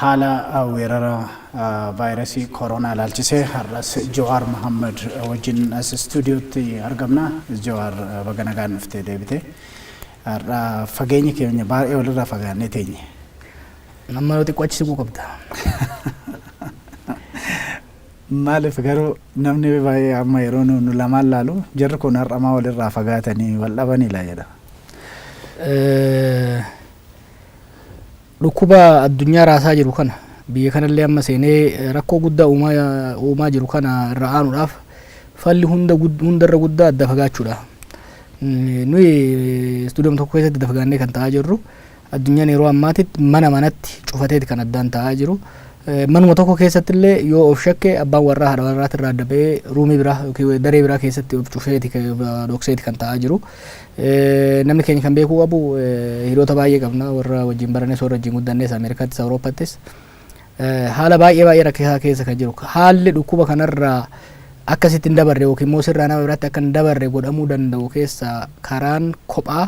Haala weerara vaayrasii koroonaa ilaalchisee har'as Jawaar Mahaammad wajjin as istuudiyootti argamna. Jawaar baga nagaan dhuftee deebite. Har'a fageenyi keenya baay'ee walirraa fagaannee teenye. Amma yoo xiqqoo achi siquu qabda. Maaliif garuu namni baay'ee amma yeroo nu nu lamaan laalu jarri kun har'a maa walirraa fagaatanii wal dhabanii laa jedha. Dhukkuba addunyaa raasaa jiru kana, biyya kanallee amma seenee rakkoo guddaa uumaa jiru kana irraa aanuudhaaf falli hundarra guddaa adda fagaachuudha. Nuyi istuudiyooma tokko keessatti adda fagaannee kan taa'aa jirru addunyaan yeroo ammaatitti mana manatti cufateeti kan addaan taa'aa jiru. Manuma tokko keessatti illee yoo of shakke abbaan warraa haadha warraati irraa adda ba'ee ruumii biraa yookiin daree biraa keessatti of cufeeti dhokseeti kan taa'aa jiru. Namni keenya kan beekuu qabu hiriyoota baay'ee qabna warra wajjin barannes warra wajjin guddannes Ameerikaattis Awurooppaattis haala baay'ee baay'ee rakkisaa keessa kan jiru haalli dhukkuba kanarraa akka sitti hin dabarre yookiin immoo sirraa nama biraatti akka hin dabarre godhamuu danda'u keessa karaan kophaa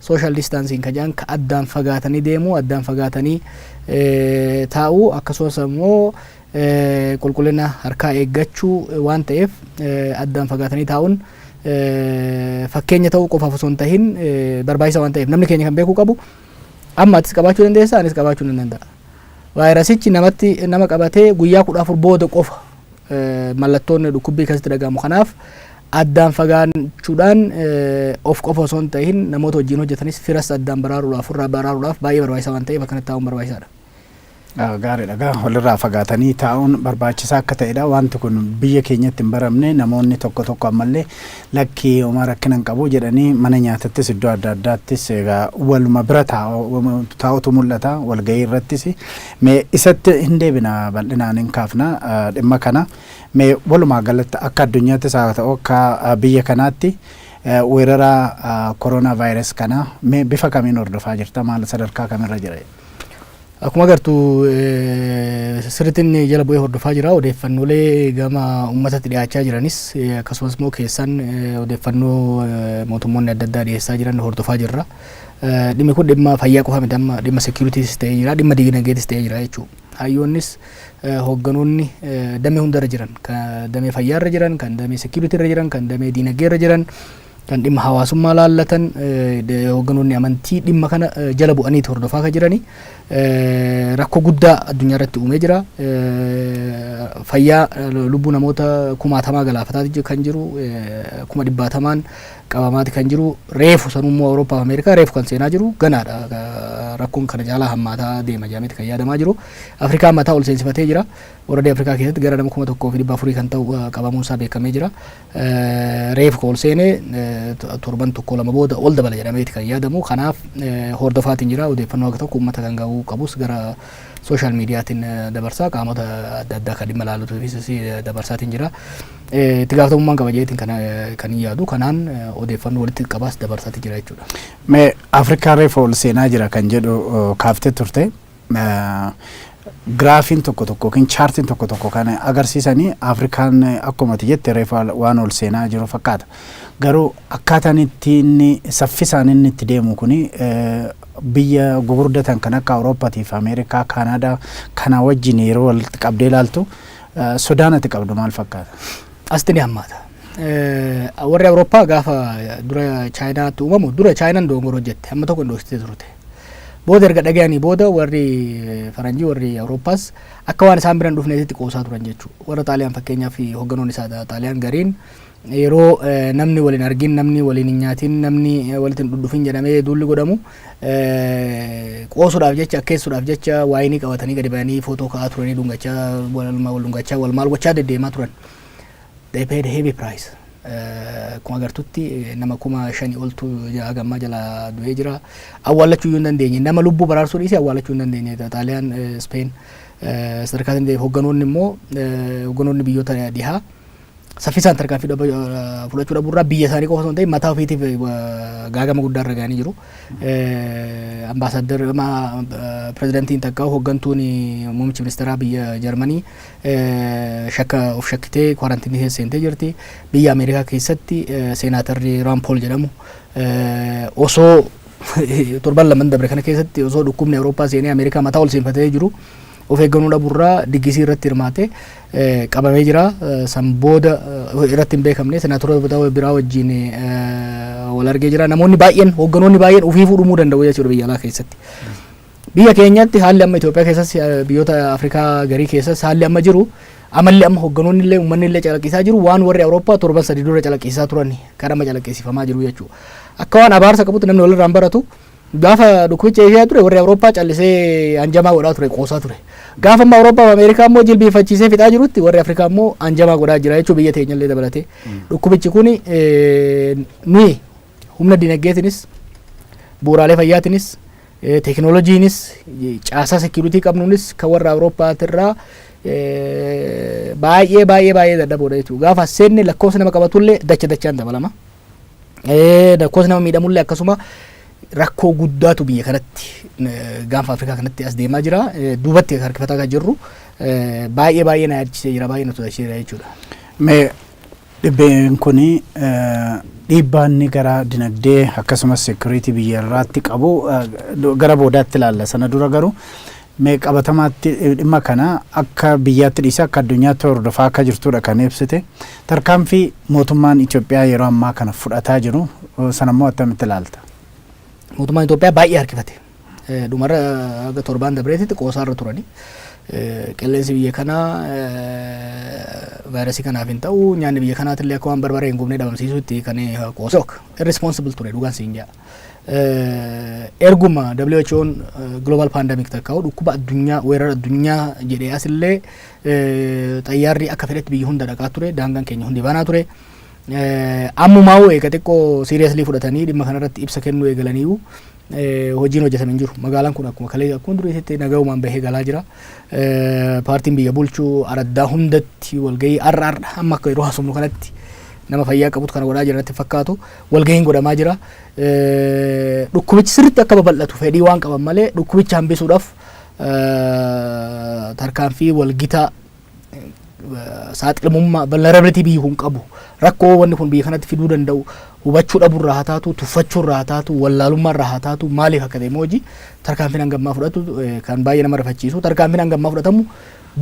social distancing ka jedhan ka addaan fagaatanii deemuu addaan fagaatanii taa'uu akkasumas immoo qulqullina harkaa eeggachuu waan ta'eef addaan fagaatanii taa'uun fakkeenya ta'uu qofaaf osoo hin tahin barbaachisa waan ta'eef namni keenya kan beekuu qabu amma atis qabaachuu dandeessa anis qabaachuu nan danda'a. Vaayirasichi namatti nama qabatee guyyaa kudha afur booda qofa mallattoon dhukkubbii keessatti dhagahamu kanaaf addaan fagaachuudhaan of qofa osoo hin tahin namoota wajjin hojjetanis firas addaan baraaruudhaaf ofirraa baraaruudhaaf baay'ee barbaachisaa waan ta'eef akkanatti taa'uun barbaachisaadha. Gaariidha gaa walirraa fagaatanii taa'uun barbaachisaa akka ta'edha wanti kun biyya keenyatti hin baramne namoonni tokko tokko ammallee lakki homaa rakkina hin qabu jedhanii mana nyaatattis iddoo adda addaattis egaa waluma bira taa'utu mul'ata walgahii irrattis mee isatti hin deebina bal'inaan hin kaafna dhimma kana mee walumaa galatti akka addunyaattis haa ta'u akka biyya kanaatti weerara koroonaa vaayirasi kana mee bifa kamiin hordofaa jirta maal sadarkaa kamirra jira? Akkuma agartu sirrittiin jala bu'ee hordofaa jira. Odeeffannoolee gama uummatatti dhiyaachaa jiranis akkasumas immoo keessaan odeeffannoo mootummoonni adda addaa dhiyeessaa jiran hordofaa jirra. Dhimmi kun dhimma fayyaa qofa miti amma dhimma seekiyuriitiis ta'ee jira dhimma diinagdeetis ta'ee jira jechuudha. Hayyoonnis hoogganoonni damee hundarra jiran kan damee fayyaarra jiran kan damee seekiyuriitiirra jiran kan damee diinagdeerra jiran kan dhimma hawaasummaa laallatan hoogganoonni amantii dhimma kana jala bu'anii hordofaa kan jiranii rakkoo guddaa addunyaa irratti uumee jira. Fayyaa lubbuu namoota kumaatamaa galaafataa kan jiru kuma dhibbaatamaan qabamaati kan jiru reefu sanummoo Awurooppaa fi Ameerikaa reefu kan seenaa jiru ganaadha. Rakkoon kana jaalaa hammaataa deema jedhameeti kan yaadamaa jiru. Afrikaa mataa ol seensifatee jira. Warradii Afrikaa keessatti gara nama kuma tokkoo fi dhibba afurii kan ta'u qabamuun isaa beekamee jira. Reefu ka ol seene torban tokko lama booda ol dabala jedhameeti kan yaadamu. Kanaaf hordofaatiin jira. Odeeffannoo haga tokko uummata kan ga'uu qabus gara sooshaal miidiyaatiin dabarsaa qaamota adda addaa kan dhimma laalutuufis dabarsaatiin jira. Itti gaafatamummaan qaba jedheetiin kan kan hin yaadu. Kanaan odeeffannoo walitti qabaas dabarsaatiin jira jechuudha. Mee Afrikaa reefu ol seenaa jira kan jedhu kaaftee turte. Giraafiin tokko tokko yookiin chaartiin tokko tokko kan agarsiisani Afrikaan akkuma ati jette reefa waan ol seenaa jiru fakkaata. Garuu akkaataan itti inni saffisaan inni itti deemu kuni biyya gugurdatan kan akka Awurooppaatii fi Ameerikaa, Kaanaadaa kana wajjin yeroo walitti qabdee ilaaltu sodaan ati qabdu maal fakkaata? Asitti ni hammaata. Warri Awurooppaa gaafa dura Chaayinaatti uumamu dura Chaayinaan doongora hojjette amma tokko indoostee turte. Booda erga dhagayanii booda warri faranjii warri Awurooppaas akka waan isaan biran dhufneetitti qoosaa turan jechuudha. Warra Xaaliyaan fakkeenyaaf hogganoon isaa Xaaliyaan gariin yeroo namni waliin argin namni waliin hin nyaatin namni walitti hin dhudhufin jedhamee duulli godhamu qoosuudhaaf jecha akkeessuudhaaf jecha waayinii qabatanii gadi ba'anii footoo ka'aa turanii dhungachaa wal dhungachaa wal maal gochaa deddeemaa turan. They paid heavy price. Akkuma agartutti nama kuma shanii oltu haga ammaa jala du'ee jira. Awwaallachuu iyyuu hin dandeenye. Nama lubbuu baraarsuu dhiisee awwaallachuu hin dandeenye. Xaaliyaan, Speen sadarkaa sanii ta'eef hogganoonni immoo hogganoonni biyyoota dhihaa saffisaan tarkaanfii fudhachuu dhabuurraa biyya isaanii qofa osoo hin ta'in mataa ofiitiif gaagama guddaa irra ga'anii jiru. Ambaasaaddar ama pirezidantiin takka hooggantuun muummichi ministeeraa biyya Jarmanii shakka of shakkitee kwaarantiinii keessa seentee jirti. Biyya Ameerikaa keessatti seenaatarri Raan Pool jedhamu osoo torban laman dabre kana keessatti osoo dhukkubni Awurooppaa seenee Ameerikaa mataa ol seenfatee jiru Of eegganoo dhabu irraa diggisii irratti hirmaate qabamee jira. San booda irratti hin beekamne senaatorota biraa wajjin wal argee jira. Namoonni baay'een hoogganoonni baay'een ofiifuu dhumuu danda'u jechuudha biyya alaa keessatti. Biyya keenyatti haalli amma Itoophiyaa keessas biyyoota Afrikaa garii keessas haalli amma jiru amalli amma hoogganoonni illee uummanni illee calaqqisaa jiru waan warri Awurooppaa torban sadii dura calaqqisaa turani kan amma calaqqisiifamaa jiru jechuudha. Akka waan abaarsa qabutti namni walirraan baratu Gaafa dhukkubichi Eeshiyaa ture warri Awurooppaa callisee anjamaa godhaa ture qoosaa ture. Gaafa amma Awurooppaa fi Ameerikaa immoo jilbiifachiisee fixaa jirutti warri Afrikaa immoo anjamaa godhaa jira jechuun biyya teenya illee dabalatee. Dhukkubichi kun nuyi humna dinagdeetinis bu'uuraalee fayyaatinis eh, teekinooloojiinis eh, caasaa sekiuritii qabnuunis kan warra Awurooppaatirraa eh, baay'ee baay'ee baay'ee dadhaboodha jechuudha. Gaafa seenne lakkoofsi nama qabatullee dacha dachaan dabalama. Lakkoofsi nama miidhamullee akkasuma rakkoo guddaatu biyya kanatti gaanfa Afrikaa kanatti as deemaa jira. Duubatti harkifataa kan jirru baay'ee baay'ee na yaadachisee jira baay'ee na sodaachisee jira jechuudha. Mee dhibbeen kun dhiibbaa inni gara dinagdee akkasumas seekuriitii biyya irraatti qabu gara boodaatti ilaalla. Sana dura garuu Mee qabatamaatti dhimma kana akka biyyaatti dhiisee akka addunyaatti hordofaa akka jirtuudha kan ibsite. Tarkaanfii mootummaan Itoophiyaa yeroo ammaa kana fudhataa jiru sanammoo attamitti ilaalta? Mootummaan Itoophiyaa baay'ee harkifate. Dhumarra haga torbaan dabreetitti qoosaarra turani. Qilleensi biyya kanaa vaayirasii kanaaf hin ta'u nyaanni biyya kanaatillee akka waan barbaree hin gubne dhabamsiisuutti kan qoosook irresponsible ture dhugaan siin jaa. erguma WHO'n global pandemic takka'u dhukkuba addunyaa weerara addunyaa jedhee asillee xayyaarri akka fedhetti biyya hunda dhaqaa ture daangaan keenya hundi banaa ture. Ammumaa'uu eega xiqqoo siiriyaslii fudhatanii dhimma kanarratti ibsa kennuu eegalaniiru. Hojiin hojjetame hin jiru. Magaalaan kun akkuma kalee akkuma duriitti nagayumaan bahee galaa jira. Paartiin biyya bulchuu araddaa hundatti walgahii har'a har'a amma akka yeroo haasofnu kanatti nama fayyaa qabutu kana godhaa jira natti fakkaatu. walgahiin godhamaa jira. Dhukkubichi sirriitti akka babal'atu fedhii waan qaban malee dhukkubicha hambisuudhaaf tarkaanfii walgita saaxilamummaa vulnerability biyyi kun qabu rakkoo wanni kun biyya kanatti fiduu danda'u hubachuu dhabuurraa haa taatu tuffachuurraa haa taatu wallaalummaarraa haa taatu maaliif akka ta'e mooji tarkaanfiin hangammaa fudhatu kan baay'ee nama rifachiisu tarkaanfiin hangammaa fudhatamu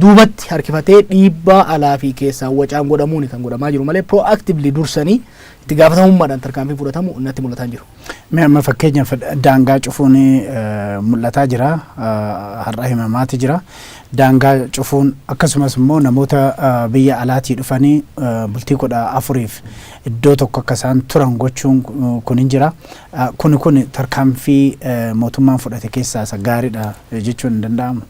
duubatti harkifatee dhiibbaa alaa fi keessaa wacaan godhamuun kan godhamaa jiru malee proactively dursanii Itti gaafatamummaadhaan tarkaanfiin fudhatamu natti mul'ataa hin jiru. Mee amma fakkeenyaaf daangaa cufuun mul'ataa jira. Har'a himamaati jira. Daangaa cufuun akkasumas immoo namoota biyya alaatii dhufanii bultii kudha afuriif iddoo tokko akka isaan turan gochuun kun hin jira. Kuni kun tarkaanfii mootummaan fudhate keessaa isa gaariidha jechuun hin danda'amu.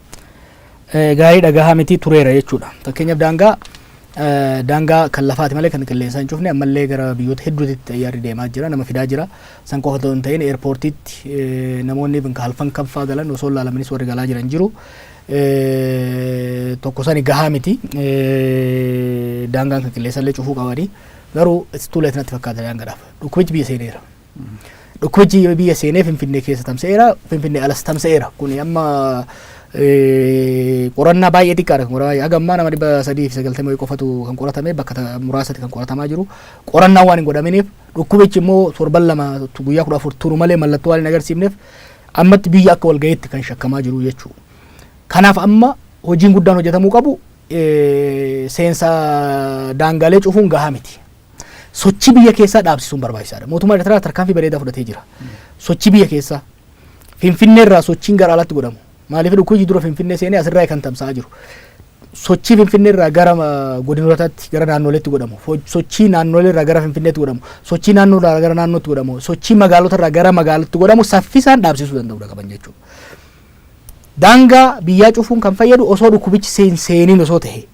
gaariidha gahaa miti tureera jechuudha. Fakkeenyaaf daangaa daangaa kan lafaati malee kan qilleensaa hin cufne ammallee gara biyyoota hedduutti xayyaarri deemaa jira nama fidaa jira. San qofa otoo hin ta'in eerpoortiitti namoonni kan halkan kanfaa galan osoo laalamanis warri galaa jiran jiru. Tokko sani gahaa miti daangaan kan qilleensallee cufuu qabani garuu it's too late natti fakkaata daangaadhaaf dhukkubichi biyya seeneera. Dhukkubbichi yoo biyya seenee Finfinnee keessa tamsa'eera, Finfinnee alas tamsa'eera. Kun amma eh, qorannaa baay'ee xiqqaadha kan qoramaa jiru. Haga ammaa nama dhibba sadii fi sagaltamii wayii qofatu kan qoratame bakka ta- muraasatti kan qoratamaa jiru. Qorannaa waan hin godhaminiif dhukkubichi immoo torban lama tu- guyyaa kudha afur turu malee mallattoo waan hin agarsiifneef ammatti biyya akka walga'iitti kan shakkamaa jiru jechuudha. Kanaaf amma hojiin guddaan hojjetamuu qabu eh, seensa daangaalee cufuun gahaa miti. Sochii biyya keessaa dhaabsisuun barbaachisaadha. Mootummaan Ertiraa tarkaanfii bareedaa fudhatee jira. Sochii biyya keessaa Finfinnee irraa sochiin gara alaatti godhamu. Maaliif dhukkubi dura Finfinnee seenee asirraa kan tamsa'aa jiru. Sochii Finfinnee irraa gara ah, godinootaatti gara naannoleetti godhamu. Fo- Sochii naannolee irraa gara Finfinneetti godhamu. Sochii naannoo irraa gara naannootti godhamu. Sochii magaalota irraa gara magaalatti godhamu saffisaan dhaabsisuu danda'uudha qaban jechuudha. Daangaa biyyaa cufuun kan fayyadu osoo dhukkubichi seen- seeniin osoo ta'e.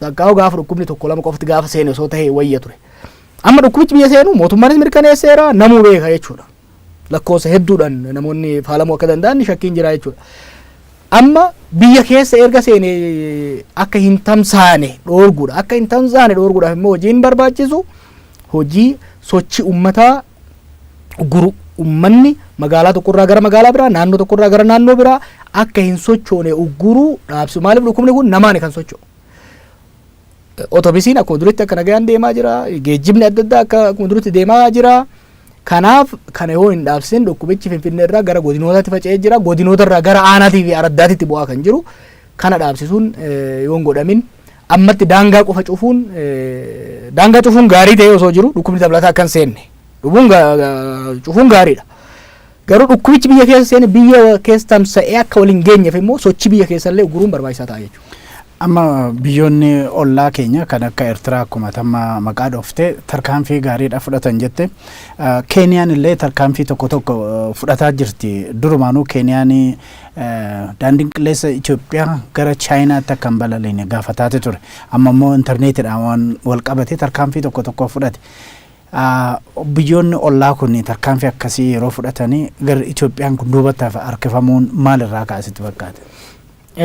Baqqaa'oo gaafa dhukkubni tokko lama qofti gaafa seene osoo ta'ee wayya ture. Amma dhukkubichi biyya seenu mootummaanis mirkaneesseera namuu beeka jechuudha. Lakkoofsa hedduudhaan namoonni faalamuu akka danda'an shakkiin jira jechuudha. Amma biyya keessa erga seene akka hin tamsaane dhoorguudha. Akka hin tamsaane dhoorguudhaaf immoo hojiin barbaachisu hojii sochii ummataa guru ummanni magaalaa tokkorraa gara magaalaa biraa naannoo tokkorraa gara naannoo biraa akka hin sochoone ugguruu dhaabsu maaliif dhukkubni kun namaani kan socho'u. Otobisiin akkuma duritti akka nagaan deemaa jira geejjibni adda addaa akka akkuma duritti deemaa jira. Kanaaf kana yoo hin dhaabsin dhukkubichi finfinnee irraa gara godinootaatti faca'ee jira godinoota irraa gara aanaatii fi araddaatitti bu'aa kan jiru kana dhaabsisuun yoo hin godhamin Ammatti daangaa qofa cufuun daangaa cufuun gaarii ta'ee osoo jiru dhukkubni dabalataa akka hin seenne dhubuun cufuun gaariidha. Garuu dhukkubichi biyya keessa seene biyya keessa tamsa'ee akka waliin geenyeef immoo sochii biyya keessallee uguruun barbaachisaa ta'a jechuudha. Amma biyyoonni ollaa keenya kan akka Eertiraa akkuma tamma maqaa dhoofte tarkaanfii gaariidha fudhatan jette. Keeniyaan illee tarkaanfii tokko tokko fudhataa jirti. Durumaanuu Keeniyaan Daandiin qilleessa Itoophiyaa gara Chaayinaatti akka hin balaliine gaafataati ture. Amma immoo intarneetiidhaan waan wal qabate tarkaanfii tokko tokko fudhate. Biyyoonni ollaa kun tarkaanfii akkasii yeroo fudhatanii gara Itoophiyaan kun duubatti harkifamuun maalirraa kaasitti fakkaata?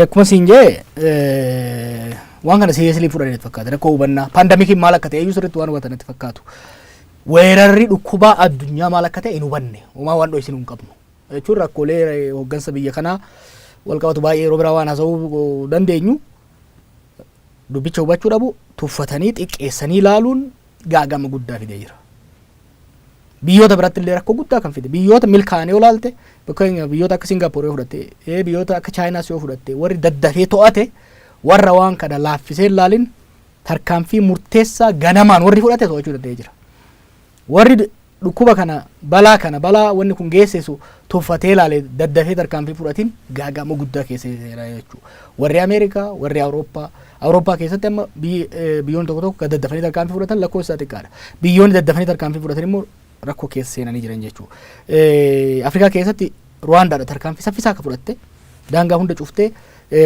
Akkuma siin jee waan kana siiriyeesilii fudhatan fakkaata. Rakkoo hubannaa paandamikiin maal akka ta'e iyyuu sirriitti waan hubatan itti fakkaatu. Weerarri dhukkubaa addunyaa maal akka ta'e hin hubanne. Homaa waan dho'isin hin qabnu. jechuun rakkoolee hooggansa biyya kanaa walqabatu baay'ee yeroo biraa waan haasa'uu dandeenyu dubbicha hubachuu dhabu tuffatanii xiqqeessanii ilaaluun gaagama guddaa fidee jira. Biyyoota biratti illee rakkoo guddaa kan fide biyyoota milkaa'anii olaalte fakkeenyaaf biyyoota akka Singaapoor yoo fudhatte ee biyyoota akka Chaayinaas yoo fudhatte warri daddafee to'ate warra waan kana laaffisee ilaalin tarkaanfii murteessaa ganamaan warri fudhate to'achuu danda'ee jira. Warri dhukkuba kana, balaa kana, balaa wanni kun geessisu tuffatee ilaale daddafee tarkaanfii fudhatiin gaaga'ama guddaa keessa jira jechuudha. Warri Ameerikaa, warri Awurooppaa, Awurooppaa keessatti amma biyyoonni tokko tokko kan daddafanii tarkaanfii fudhatan lakkoofsi isaa xiqqaadha. Biyyoonni daddafanii tarkaanfii fudhatan immoo rakkoo keessa seenanii jiran jechuudha. Afrikaa keessatti Ruwaandaadha tarkaanfii saffisaa akka fudhatte daangaa hunda cuftee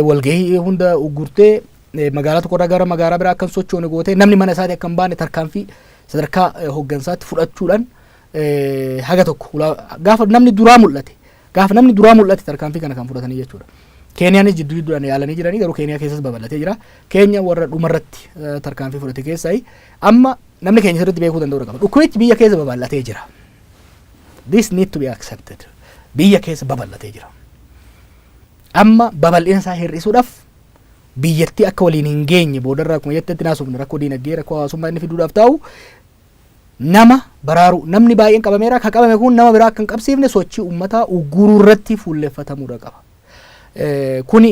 walgahii hunda uggurtee magaalaa tokkorraa gara magaalaa biraa akka hin sochoone gootee namni mana isaatii akka hin baane tarkaanfii sadarkaa hooggansaatti fudhachuudhaan haga tokko gaafa namni duraa mul'ate gaafa namni duraa mul'ate tarkaanfii kana kan fudhatanii jechuudha. Keeniyaanis jidduu jidduudhaan yaalanii jiranii garuu Keeniyaa keessas babal'atee jira. Keenya warra dhumarratti tarkaanfii fudhate keessaa amma namni keenya sirriitti beekuu danda'u qaba. Dhukkubichi biyya keessa babal'atee jira. This need to be accepted. Biyya keessa babal'atee jira. Amma babal'ina isaa hir'isuudhaaf biyyattii akka waliin hin geenye boodarra akkuma jettetti naasofne rakkoo diinagdee rakkoo hawaasummaa inni fiduudhaaf taa'u nama baraaruu namni baay'een qabameera ka qabame kun nama biraa akka hin qabsiifne sochii uummataa ugguruu irratti fuulleffatamuudha qaba. Kuni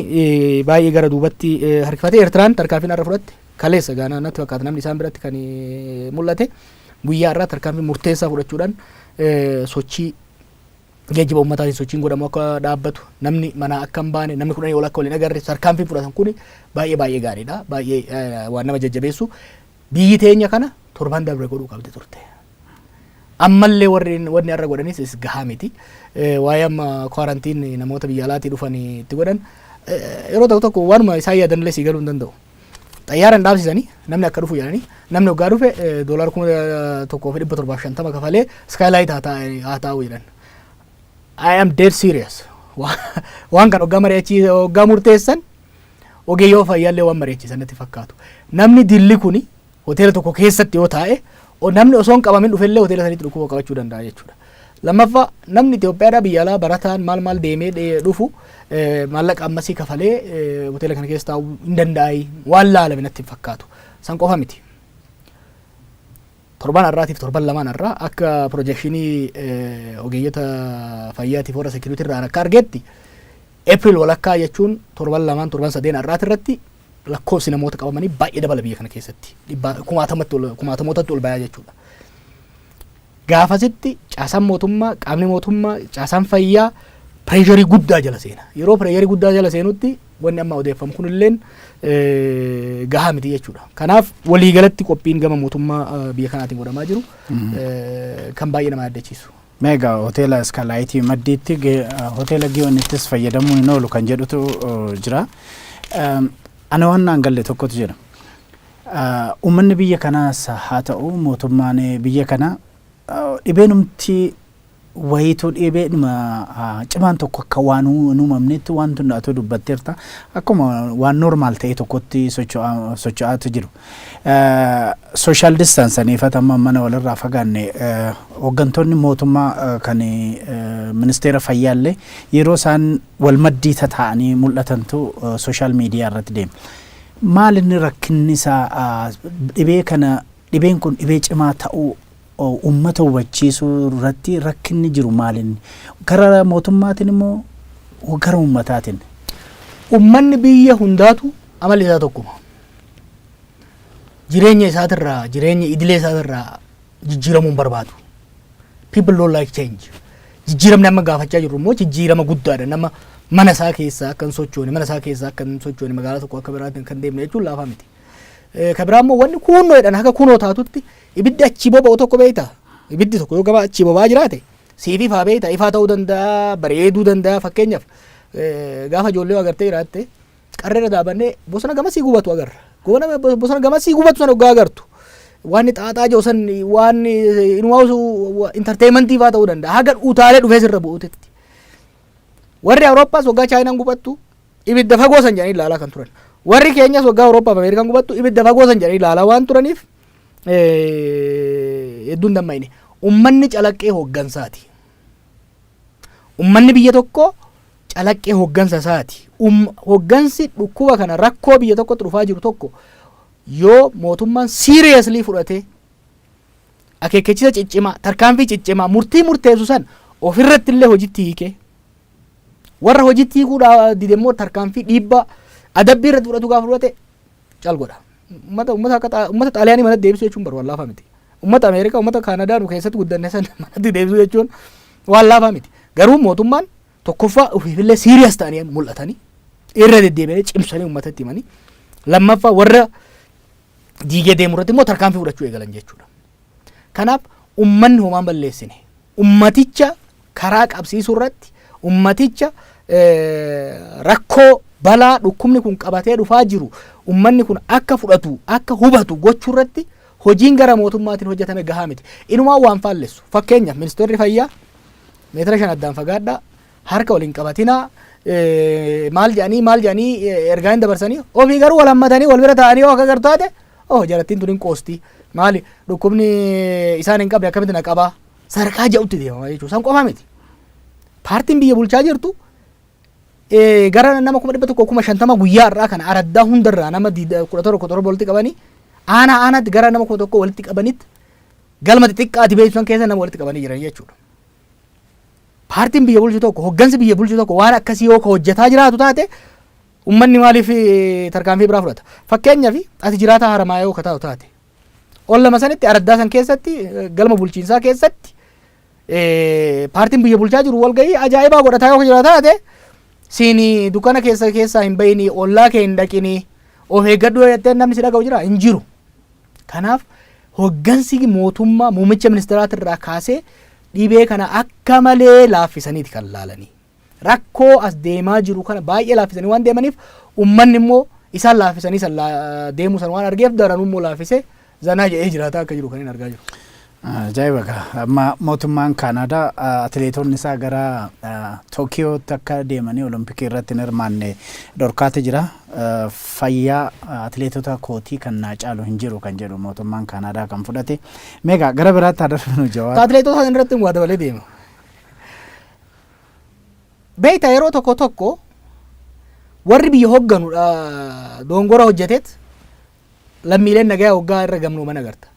baay'ee gara duubatti harkifatee Eertiraan tarkaanfiin har'a fudhatte kaleessa gaanaa natti fakkaata namni isaan biratti kan mul'ate guyyaa irraa tarkaanfii murteessaa fudhachuudhaan sochii geejjiba ummataatiin sochiin godhamu akka dhaabbatu, namni manaa akka hin baane, namni kudhanii ol akka wal hin agarre tarkaanfiin fudhatan kuni baay'ee baay'ee gaariidha. Baay'ee eh, waan nama jajjabeessu. Biyyi teenya kana torban dabre godhuu qabdi turte. ammallee warri wanni har'a godhanis is gahaa miti. Eh, Waa'ee amma kwaarantiin namoota biyya alaatii dhufan itti godhan eh, yeroo tokko tokko waanuma isaan yaadanillee sii galuu hin danda'u. xayyaara hin dhaabsisanii namni akka dhufu jedhanii namni waggaa dhufe doolaara kuma tokkoo fi dhibba torbaaf shantama kafalee iskaayilaayit haa taa'u jedhan. I am dead serious. Waan kan waggaa mari'achii waggaa murteessan ogeeyyoo fayyaallee waan mari'achiisan natti fakkaatu. Namni dilli kuni hoteela tokko keessatti yoo taa'e o- namni osoo hin qabamin dhufellee hoteela sanitti dhukkuba qabachuu danda'a jechuudha. Lammaffaa namni Itoophiyaadhaa biyya alaa barataan maal maal deemee dhee- dhufu eh, maallaqa ammasii kafalee eh, hoteela kana keessa taa'uu hin danda'ai waan laalame natti hin fakkaatu. San qofa miti. Torban har'aatiif torban lamaan har'aa akka piroojekshinii eh, ogeeyyota fayyaatiif warra seekiriitii irraa akka argetti April walakkaa jechuun torban lamaan torban sadeen har'aati irratti lakkoofsi namoota qabamanii baay'ee dabala biyya kana keessatti dhibbaa kumaatamatti ol- kumaatamootatti ol bayaa jechuudha. Gaafasitti caasaan mootummaa qaamni mootummaa caasaan fayyaa pireesharii guddaa jala seena. Yeroo pireesharii guddaa jala seenutti wanni amma odeeffamu kunilleen eh, gahaa miti jechuudha. Kanaaf waliigalatti qophiin gama mootummaa eh, biyya kanaatiin godhamaa jiru eh, kan baay'ee nama yaaddachiisu. Mega Hoteela Iskaalaayitii Maddiitti Hoteela Giyoonittis fayyadamuun hin oolu kan jedhutu jira. Ana waan naan galle tokkotu jira. Uummanni biyya kanaas haa ta'u mootummaan biyya kanaa dhibeenumti wayiitu dhibeedhuma cimaan tokko akka waan hin uumamnetti waan tunna atuu dubbatteerta akkuma waan normaal ta'e tokkotti socho'aatu jiru. Social distance aniifat amma mana walirraa fagaanne hooggantoonni mootummaa kan ministeera fayyaallee yeroo isaan wal maddii tataa'anii mul'atantu social media irratti deema. Maal inni rakkinni isaa dhibee kana dhibeen kun dhibee cimaa ta'uu uummata hubachiisuu irratti rakkinni jiru maal inni gara mootummaatiin immoo gara uummataatiin. Uummanni biyya hundaatu amalli isaa tokkuma. jireenya isaatirraa jireenya idilee isaatirraa jijjiiramuu hin barbaadu. People don't like change. Jijjiiramni amma gaafachaa jirru immoo jijjiirama guddaadha. Nama mana isaa keessaa akka hin sochoone, mana isaa keessaa akka hin sochoone, magaalaa tokko akka biraatti kan deemne jechuun laafaa miti. Eh, Kan biraa immoo wanni kuunnoo jedhan haga kunoo taatutti ibiddi achii boba'u tokko beekta. Ibiddi tokko yoo gama achii boba'aa jiraate siif ifaa beekta. Ifaa ta'uu danda'a, bareeduu danda'a fakkeenyaaf eh, gaafa ijoollee agartee jiraatte Qarreerra dhaabannee bosona gamasii gubatu agarra. Goona bosona gamasii gubatu sana oggaa agartu. Waan xaaxaa jiru san waan inumaawusu intarteeyimentii fa'aa ta'uu danda'a. Haga utaalee dhufee sirra bu'uutetti. Warri Awurooppaas waggaa Chaayinaan gubattu ibidda fagoo san jedhanii ilaalaa kan turan. Warri keenyas waggaa Awurooppaaf Ameerikaan gubattu ibidda fagoo san jedhanii ilaalaa waan turaniif hedduun damma'ine. Ummanni calaqqee hooggansaati. Ummanni biyya tokkoo calaqqee hoggansa isaati. Um, hoggansi dhukkuba kana rakkoo biyya tokkotti dhufaa jiru tokko yoo mootummaan seriously fudhatee akeekkachiisa ciccimaa, tarkaanfii ciccimaa, murtii murteessu san ofirratti illee hojitti hiikee warra hojitti hiikuu dha- dide immoo tarkaanfii dhiibbaa adabbii irratti fudhatu gaafa fudhate cal godha. Ummata ummata akka xaa- ummata xaaliyaanii manatti deebisuu jechuun baru waan laafaa miti. Ummata Ameerikaa ummata Kaanadaa nu keessatti guddanne san manatti deebisuu jechuun waan laafaa miti. Garuu mootummaan tokkoffaa ofiifillee siiriyas ta'anii amma mul'atanii irra deddeebi'anii cimsanii ummatatti himanii lammaffaa warra diigee deemu irratti immoo tarkaanfii fudhachuu eegalan jechuudha. Kanaaf ummanni homaan balleessine ummaticha karaa qabsiisuu irratti ummaticha rakkoo balaa dhukkubni kun qabatee dhufaa jiru ummanni kun akka fudhatu akka hubatu gochuu irratti hojiin gara mootummaatiin hojjetame gahaa miti. Inumaa waan faallessu fakkeenyaaf ministeerri fayyaa meetira shan addaan fagaadhaa harka wal hin qabatinaa eh, maal jedhanii maal jedhanii eh, ergaa hin dabarsanii ofii garuu wal hammatanii wal bira taa'anii yoo akka gartaate oh jarattiin tun hin qoosti maali dhukkubni isaan hin qabne akkamitti na qabaa sadarkaa ja'utti deemama jechuudha san qofaa miti paartiin biyya bulchaa jirtu eh, gara nama kuma dhibba tokko kuma shantama guyyaa irraa kana araddaa hundarraa nama diida- kudha torba torba walitti qabanii aanaa aanaatti gara nama kuma tokko walitti qabanitti galma xixiqqaati beeksisan keessa nama walitti qabanii jiran jechuudha. Paartiin biyya bulchu tokko, hoggansi biyya bulchu tokko waan akkasii yoo ka hojjetaa jiraatu taate ummanni maaliif eh, tarkaanfii biraa fudhata? Fakkeenyaaf ati jiraataa haramaaya yoo ka taatu taate ollama sanitti araddaa san keessatti eh, galma bulchiinsaa keessatti eh, paartiin biyya bulchaa jiru walgahii ajaa'ibaa godhataa yoo ka jiraatu taate siini dukkana keessa keessaa hin bayinii ollaa kee hin dhaqinii of eeggadhu yoo jettee namni si dhaga'u jira hin jiru. Kanaaf hoggansi mootummaa muummicha ministiraatirraa kaasee dhibee kana akka malee laaffisaniiti kan laalanii. Rakkoo as deemaa jiru kana baay'ee laaffisanii waan deemaniif ummanni immoo isaan laaffisanii san deemuu san waan argeef daranuu immoo laaffisee zanaa jedhee jiraataa akka jiru kan hin argaa jiru. Ajaa'iba kaa! Amma mootummaan Kaanaadaa atileetonni isaa gara Tookiyootti akka deemanii Olompikii irratti hin hirmaanne dhorkaati jira. Fayyaa atileetota kootii kan naa caalu hin jiru kan jedhu mootummaan Kaanaadaa kan fudhate. Meegaa gara biraatti haa darbinu Jawaar. Atileetota sana irratti waa dabalee deema. Beektaa yeroo tokko tokko warri biyya hogganu dha- doongora hojjeteet lammiileen nagayaa hoggaa irra gamnooman agarta.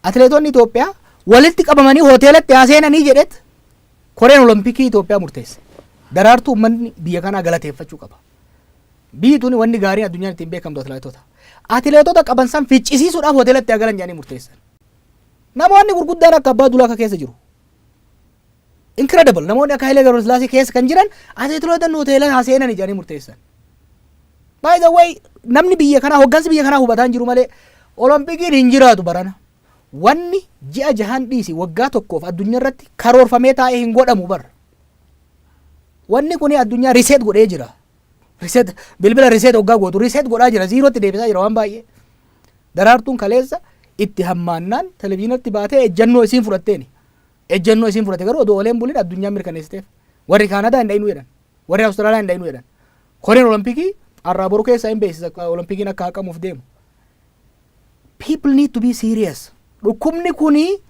Atileetonni Itoophiyaa walitti qabamanii hoteelatti haa seenanii jedheet koreen olompikii Itoophiyaa murteesse. Daraartuu uummanni biyya kanaa galateeffachuu qaba. Biyyi tuni wanni gaariin addunyaan ittiin beekamtu atileetota. Atileetota qaban san ficcisiisuudhaaf hoteelatti haa galan jedhanii murteessan. Namoonni gurguddaan akka abbaa dulaa akka keessa jiru. Incredible! Namoonni akka Hayilee Gabrasillaasee keessa kan jiran ateetiloota hoteela haa seenan jedhanii murteessan. By the way, namni biyya kanaa hoggansi biyya kanaa hubataa hin jiru malee Olompikiin hin jiraatu barana. Wanni ji'a jahan dhiisi waggaa tokkoof addunyaa irratti karoorfamee taa'ee hin godhamu bar. Wanni kuni addunyaa riseet godhee jira. Riseet bilbila riseet hoggaa gootu riseet godhaa jira ziirootti deebisaa jira waan baay'ee. Daraartuun kaleessa itti hammaannaan televizyiinatti baatee ejjannoo isiin fudhatteeni. Ejjennoo isiin fudhate garuu odoo oolee hin bulin addunyaan mirkaneessiteef. Warri Kaanadaa hin dhayinuu jedhan. Warri Awustiraaliyaa hin dhayinuu jedhan. Koreen Olompikii har'aa boru keessaa hin beeksisa Olompikiin akka haqamuuf deemu. People need to be serious. Dhukkubni kuni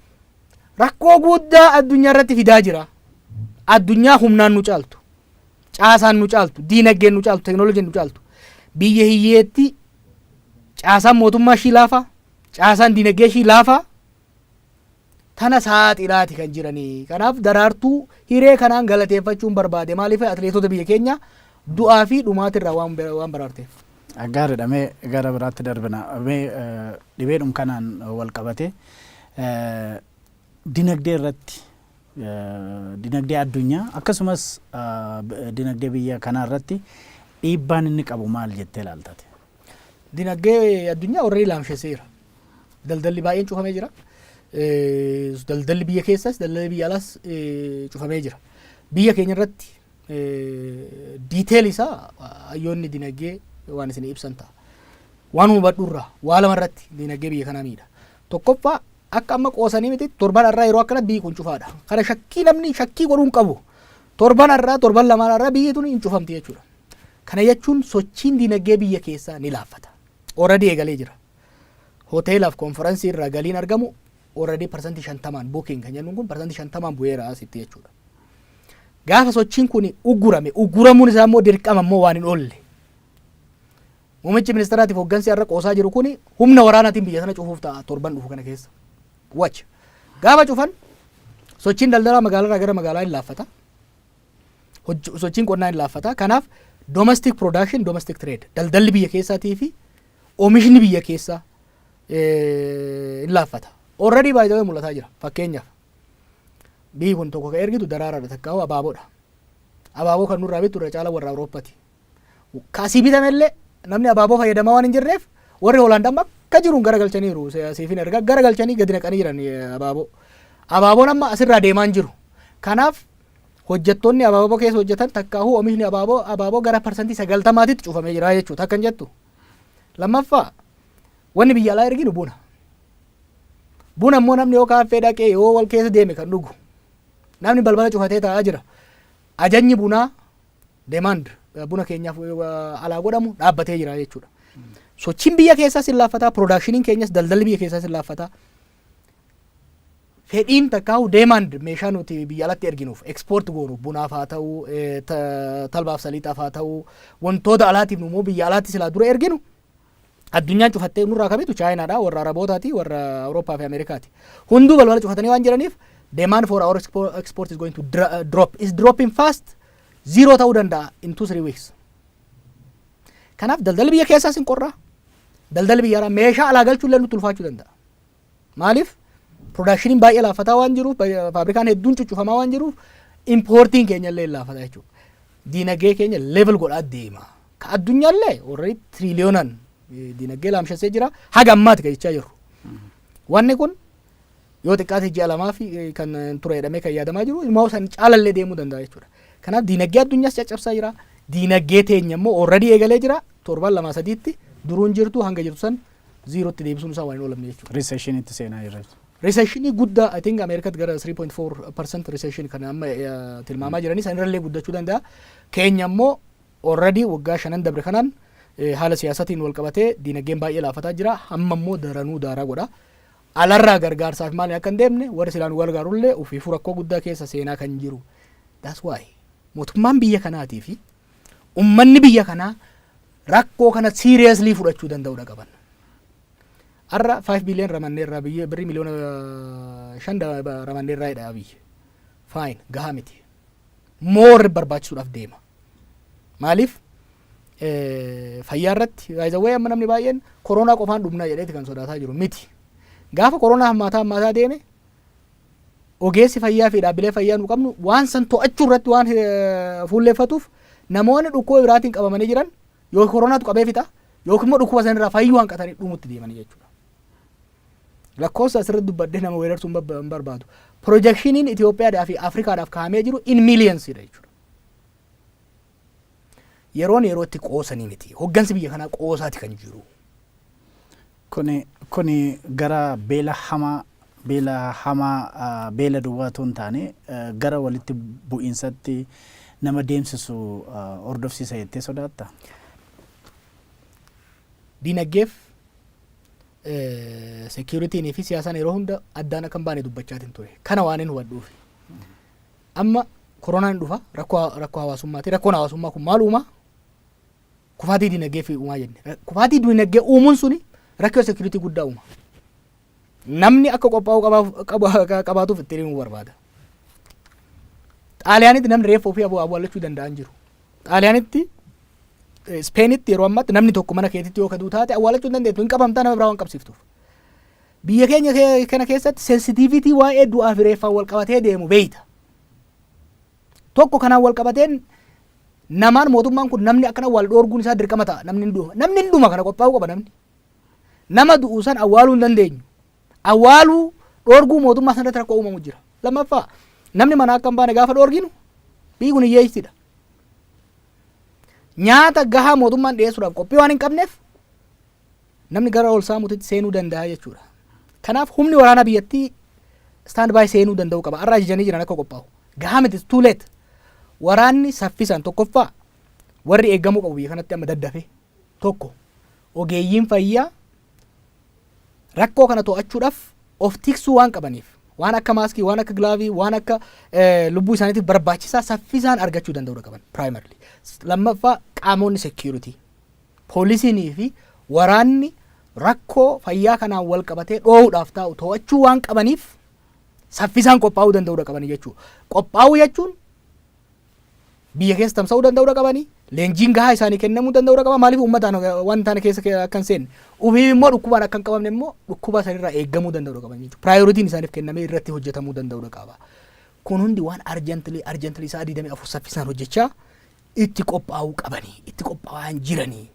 rakkoo guddaa addunyaa irratti fidaa jira. Addunyaa humnaan nu caaltu. Caasaan nu caaltu. Diinagdeen nu caaltu. Teknooloojiin nu caaltu. Biyya hiyyeetti caasaan mootummaa ishii laafaa. Caasaan diinagdee ishii laafaa. tana saaxilaati kan jirani. Kanaaf Daraartuu hiree kanaan galateeffachuun barbaade. Maaliif atileetota biyya keenya du'aa fi dhumaatirraa waan waan baraarteef. Gaariidha mee gara biraatti darbina. Mee dhibeedhum kanaan wal qabatee dinagdee irratti dinagdee addunyaa akkasumas dinagdee biyya kanaa irratti dhiibbaan inni qabu maal jettee ilaaltate? Dinagdee addunyaa warreen laamshesseera. Daldalli baay'een cufamee jira. Daldalli biyya keessas daldalli biyya alaas cufamee jira. Biyya keenya irratti diiteel isaa hayyoonni dinagdee waan isin ibsan ta'a. Waan hubadhu irraa waa lama irratti dinagdee biyya kanaa miidha. Tokkoffaa akka amma qoosanii miti torban irraa yeroo akkana biyyi kun cufaadha. Kana shakkii namni shakkii godhuu hin qabu. Torban irraa torban lamaan irraa biyyi tun hin cufamti jechuudha. Kana jechuun sochiin dinagdee biyya keessaa ni laaffata. Ooradii eegalee jira. Hoteelaaf konfaransii irraa galiin argamu already parsantii shantamaan booking kan jennuun kun parsantii shantamaan bu'eera asitti jechuudha. Gaafa sochiin kun uggurame ugguramuun isaa immoo dirqama immoo waan hin oolle. Muummichi ministeeraatiif hooggansi har'a qoosaa jiru kun humna waraanaatiin biyya sana cufuuf ta'a torban dhufu kana keessa. Watch. Gaafa cufan sochiin daldalaa magaalarraa gara magaalaa hin laaffata. Sochiin qonnaa hin laaffata. Kanaaf domestic production, domestic trade daldalli biyya keessaatii fi Oomishni biyya keessaa hin laaffata. Already by the way mul'ataa jira. Fakkeenyaaf biyyi kun tokko kan ergitu daraaraadha takkaa hoo abaaboodha. Abaaboo kan nurraa bittu irra caalaa warra Awurooppati. Ka asii bitamellee namni abaaboo fayyadamaa waan hin jirreef warri Hoolaand amma akka jiruun garagalchaniiru siifin erga garagalchanii gadi naqanii jiran abaaboo. Abaaboon amma asirraa deemaa hin jiru. Kanaaf hojjettoonni abaaboo keessa hojjetan takkaahuu oomishni abaaboo abaaboo gara parsantii sagaltamaatitti cufamee jira jechuudha akkan jettu. Lammaffaa wanni biyya alaa erginu buna. Buna immoo namni yoo kaaffee dhaqee yoo wal keessa deeme kan dhugu. Namni balbala cufatee taa'aa jira. Ajajni bunaa demand buna keenyaaf alaa godhamu dhaabbatee jira jechuudha. Sochiin biyya keessaas hin laaffataa, piroodaakshiniin keenyas daldalli biyya keessaas hin laaffataa. fedhiin takkaahu deemaand meeshaa nuti biyya alatti erginuuf ekspoort goonu bunaaf haa ta'u talbaaf saliixaaf haa ta'u wantoota alaatiif immoo biyya alaatti silaa dura erginu addunyaan cufattee nurraa kamitu chaayinaadha warra arabootaati warra awurooppaa fi ameerikaati hunduu balbala cufatanii waan jiraniif demand for our export is going to drop is dropping fast zero ta'uu danda'a in two three weeks kanaaf daldalli biyya keessaas hin qorraa daldalli biyya alaa meeshaa alaa galchuullee nutti ulfaachuu danda'a Maaliif production baay'ee laaffataa waan jiruuf faabrikaan hedduun cuccufamaa waan jiruuf importiin keenya illee laaffataa jechuudha. Diinagdee keenya level godhaa deema. Ka addunyaa illee warri tiriiliyoonaan diinagdee laamshessee jira haga ammaati ka jechaa jirru. Wanni kun yoo xiqqaate ji'a lamaa fi kan ture jedhamee kan yaadamaa jiru ilmaa san caalallee deemuu danda'a jechuudha. Kanaaf diinagdee addunyaas caccabsaa jira. Diinagdee teenya immoo already eegalee jira. Torban lama sadiitti duruun jirtu hanga jirtu san ziirootti deebisuun isaa waan hin oolamne jechuudha. Recession itti seenaa jirra jechuudha. Recessionii guddaa I think Ameerikaatti gara 3.4% recession kan amma eh, tilmaamaa jiranii san irrallee guddachuu danda'a. Keenya immoo already waggaa shanan dabre kanaan eh, haala siyaasatiin wal qabatee diinagdeen baay'ee laafataa jira. Amma immoo daranuu daaraa godha. Alarraa gargaarsaaf maali akka hin deemne warri silaan wal gaarullee ofiifuu rakkoo guddaa keessa seenaa kan jiru. That's why mootummaan biyya kanaatii fi ummanni biyya kanaa rakkoo kana seriously fudhachuu danda'udha qaban. Har'a 5 billion ramanneerraa biyya birrii miliyoona 5 ramanneerraa jedha biyya. Fine gahaa miti. More barbaachisuudhaaf deema. Maaliif? Fayyaa irratti baay'ee amma namni baay'een koronaa qofaan dhumna jedheeti kan sodaataa jiru miti. Gaafa koronaa hammaataa hammaataa deeme ogeessi fayyaa fi dhaabbilee fayyaa nu qabnu waan san to'achuu irratti waan eh, fuulleeffatuuf namoonni dhukkuba biraatiin qabamanii jiran yoo koronaatu qabee fixa yookiin immoo dhukkuba sanirraa fayyuu hanqatanii dhumutti deemanii jechuudha. Lakkoofsa asirratti dubbadhee nama weerartuu hin bab- hin barbaadu. Pirojekshiniin Itoophiyaadhaa fi Afrikaadhaaf kaa'amee jiru in miiliyansiidha jechuudha. Yeroon yeroo itti qoosanii miti. Hoggansi biyya kanaa qoosaati kan jiru. Kuni kuni gara beela hamaa beela hamaa ah, beela duwwaa otoo hin taane eh, gara walitti bu'iinsatti nama deemsisu ah, hordofsiisa jettee sodaatta? Diinaggeef eh, security'nii fi siyaasaan yeroo hunda addaan akka hin baane dubbachaatiin ture. Kana waan hin hubadhuufi. Amma koronaan dhufa, rakkoo rakkoo hawaasummaati. Rakkoon hawaasummaa kun maal uumaa? Kufaatii dinagdee fi uumaa jenne. Ra- Kufaatii dinagdee uumuun suni rakkoo security guddaa uuma. Namni akka qophaa'uu qabaaf- qaba- qabaatuuf itti himuu barbaada. Xaaliyaanitti namni reeffa ofii abu- awwaallachuu danda'an jiru. Xaaliyaanitti eh, Ispeenitti yeroo ammaatti namni tokko mana keetitti yoo kaduu taate awwaallachuu hin dandeettu hin qabamtaa nama biraa waan qabsiiftuuf. Biyya keenya kana keessatti sensitiivitii waa'ee du'aa fi reeffaan wal qabatee deemu beeyta. Tokko kanaan wal qabateen namaan mootummaan kun namni akkana wal dhoorguun isaa dirqama ta'a namni hin dhuma. Namni hin dhuma kana qophaa'uu qaba namni. Nama du'u san awwaaluu hin dandeenyu. Awwaaluu dhoorguu mootummaa sanarratti rakkoo uumamu jira. Lammaffaa namni manaa akka hin baane gaafa dhoorginu biyyi kun hiyyeessidha. Nyaata gahaa mootummaan dhiyeessuudhaaf qophii waan hin qabneef Namni gara ol saamuutitti seenuu danda'a jechuudha. Kanaaf humni waraanaa biyyattii stand by seenuu danda'uu qaba. Har'a ajajanii jiran akka qophaa'u. Gahaa miti too late. Waraanni saffisaan tokkoffaa warri eegamuu qabu biyya kanatti amma daddafe tokko ogeeyyiin fayyaa rakkoo kana to'achuudhaaf of tiksuu waan qabaniif waan akka maaskii waan akka gilaavii waan akka lubbuu isaaniitiif barbaachisaa saffisaan argachuu danda'uudha qaban primarily lammaffaa qaamonni security Poolisiin fi waraanni rakkoo fayyaa kanaan walqabatee dhoohuudhaaf taa'u to'achuu waan qabaniif saffisaan qophaa'uu danda'uudha qabanii jechuudha. Qophaa'uu jechuun biyya keessa tamsa'uu danda'uudha qabanii leenjiin gahaa isaanii kennamuu danda'uudha qaba maaliif uummataan waan taane keessa akka hin seenne ufiif immoo dhukkubaan akka hin qabamne immoo dhukkuba sanirraa eegamuu danda'uudha qaban jechuudha. Piraayoritiin isaaniif kennamee irratti hojjetamuu danda'uudha qaba. Kun hundi waan arjantilii arjantilii isaa 24 saffisaan hojjechaa itti qophaa'uu qabanii itti qophaa'aan jiranii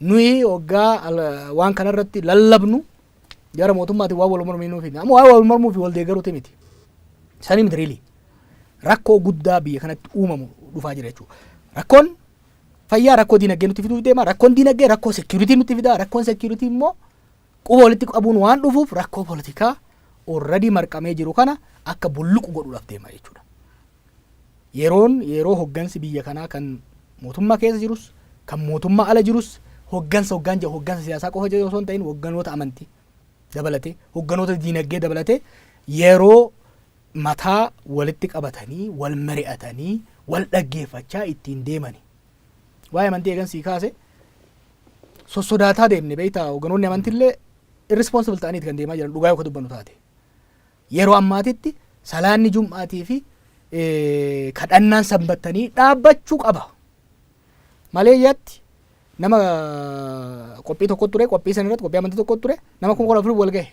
nuyi waggaa ala- waan kana irratti lallabnu gara mootummaatiin waan wal mormiinuu fi amma waan wal mormuu fi wal deeggaruuti miti sanii miti riilii rakkoo guddaa biyya kanatti uumamu dhufaa jira jechuudha rakkoon fayyaa rakkoo diinagdee nutti fiduuf deema rakkoon diinagdee rakkoo seekiyuritii nutti fida rakkoon seekiyuritii immoo Quba walitti qabuun waan dhufuuf rakkoo politikaa already marqamee jiru kana akka bulluqu godhuudhaaf deema jechuudha. Yeroon yeroo hoggansi biyya kanaa kan mootummaa keessa jirus kan mootummaa ala jirus hoggansa hoggaan jedhu hoggansa siyaasaa qofa jedhu osoo hin ta'in hogganoota amantii dabalatee hogganoota diinagdee dabalatee yeroo mataa walitti qabatanii wal mari'atanii wal dhaggeeffachaa ittiin deemani. Waa'ee amantii eegan sii kaase sossodaataa deemne beektaa hoganoonni amantillee irresponsible ta'aniiti kan deemaa jiran dhugaa yoo ka dubbannu taate. Yeroo ammaatitti salaanni jum'aatii fi kadhannaan sanbattanii dhaabbachuu qaba. Malee yaatti nama qophii tokko ture qophii san irratti qophii amantii tokko ture nama kuma kudha afur wal gahe.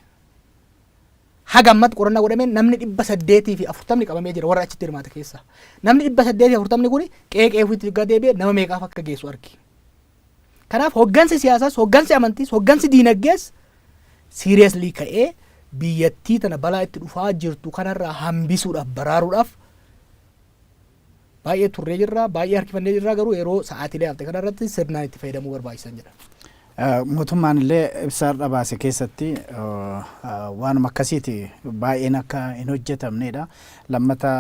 Haga ammatti qorannaa godhameen namni 840 qabamee jira warra achitti hirmaate keessaa. Namni 840 kuni qe'ee qe'ee ofiitti yoggaa deebi'e nama meeqaaf akka geessu argi. Kanaaf hoggansi siyaasaas, hoggansi amantiis, hoggansi diinaggees seriously ka'ee biyyattii tana balaa itti dhufaa jirtu kanarraa hambisuudhaaf, baraaruudhaaf Baay'ee turree jirra, baay'ee harkifannee jirra garuu yeroo sa'aatiilee hafte kana irratti sirnaan itti fayyadamuu barbaachisan jedha. Mootummaan illee ibsa har'a baase keessatti waanuma akkasiiti baay'een akka hin hojjetamneedha. Lammata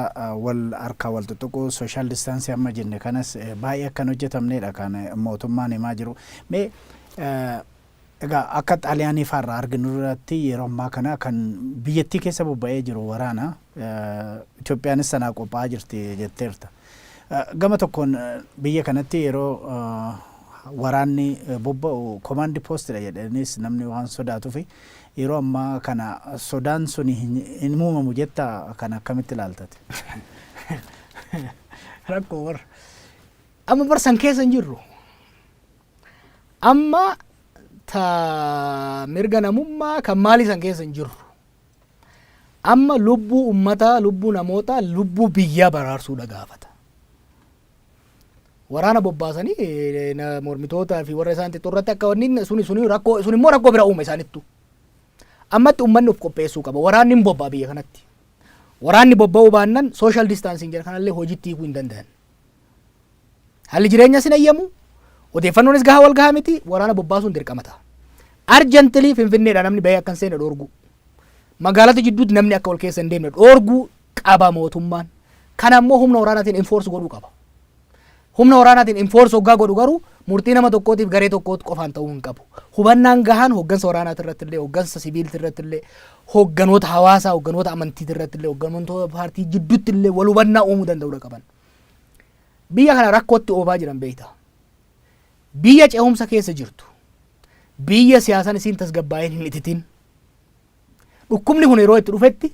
wal harkaa wal xuxuquu sooshaal distaansii amma jenne kanas baay'ee akka hin hojjetamneedha kan mootummaan himaa jiru. Mee Egaa akka Xaaliyaanii faa irraa arginu irratti yeroo ammaa kana kan biyyattii keessa bobba'ee jiru waraana. Itoophiyaanis sanaaf qophaa'aa jirti jetteerta. Gama tokkoon biyya kanatti yeroo waraanni bobba'u komaandi poostidha jedhaniis namni waan sodaatufi yeroo ammaa kana sodaan suni hin uumamu jettaa kana akkamitti ilaalta ati? Rakkoo warra. Amma bar san keessa hin jirru. Amma ta mirga namummaa kan maalii san keessa hin jirru. Amma lubbuu ummataa, lubbuu namootaa, lubbuu biyyaa baraarsuudha gaafata. Waraana bobbaasanii eh, na- mormitootaa fi warra isaan xixxoo irratti akka wanni suni suni rakkoo sun immoo rakkoo bira uuma isaanittu. Ammatti ummanni of qopheessuu qaba. Waraanni hin bobba'a biyya kanatti. Waraanni bobba'uu baannan social distancing jedha kanallee hojiitti hiikuu hin danda'an. Haalli jireenyaas hin ayyamu, odeeffannoonis gahaa wal gahaa miti, waraana bobbaasuun dirqama ta'a. Arjantilii Finfinneedhaa namni bahee akka hin seenne dhoorguu. Magaalota jidduutti namni akka wal keessa hin deemne dhoorguu qaba mootummaan. Kana immoo humna waraanaatiin enforce godhuu qaba. Humna waraanaatiin enforce hoggaa godhu garuu murtii nama tokkootiif garee tokkootti qofaan ta'uu hin qabu. Hubannaan gahaan hoggansa waraanaati irratti illee, hoggansa siviilti irratti illee, hogganoota hawaasaa, hogganoota amantiiti irratti illee, hogganoota paartii jidduutti illee wal hubannaa uumuu danda'uudha qaban. Biyya kana rakkootti oofaa jiran beekta. Biyya ce'umsa keessa jirtu. Biyya siyaasaan isiin tasgabbaa'een hin ititin. Dhukkubni kun yeroo itti dhufetti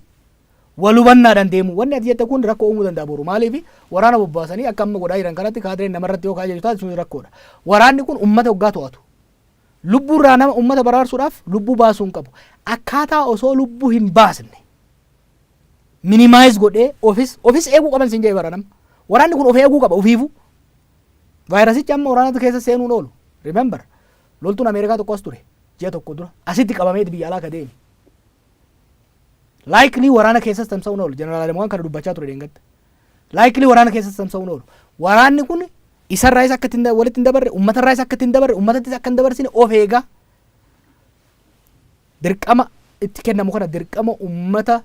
wal hubannaadhaan deemu. Wanni ati jette kun rakkoo uumuu danda'a boru. Maaliif waraana bobbaasanii akka amma godhaa jiran kanatti kaadireen namarratti yoo kaajaju taate sun rakkoodha. Waraanni kun uummata hoggaa to'atu. Lubbuurraa nama uummata baraarsuudhaaf lubbuu baasuu hin qabu. Akkaataa osoo lubbuu hin baasne minimize godhee ofis ofis eeguu qaban sin jedhe bara nama waraanni kun of eeguu qaba ofiifuu vaayirasichi amma waraanatu keessa seenuun oolu remember loltuun ameerikaa tokko as ture ji'a tokko dura asitti qabameeti biyya alaa ka deeme laayiklii waraana keessas tamsa'uun oolu jeneraal Adamuwaan kana dubbachaa ture deengadda laayiklii waraana keessas tamsa'uun oolu waraanni kun isarraayis akka ittiin da- walitti hin dabarre ummatarraayis akka ittiin dabarre ummatattis akka hin dabarsine of eegaa Dirqama itti kennamu kana dirqama ummata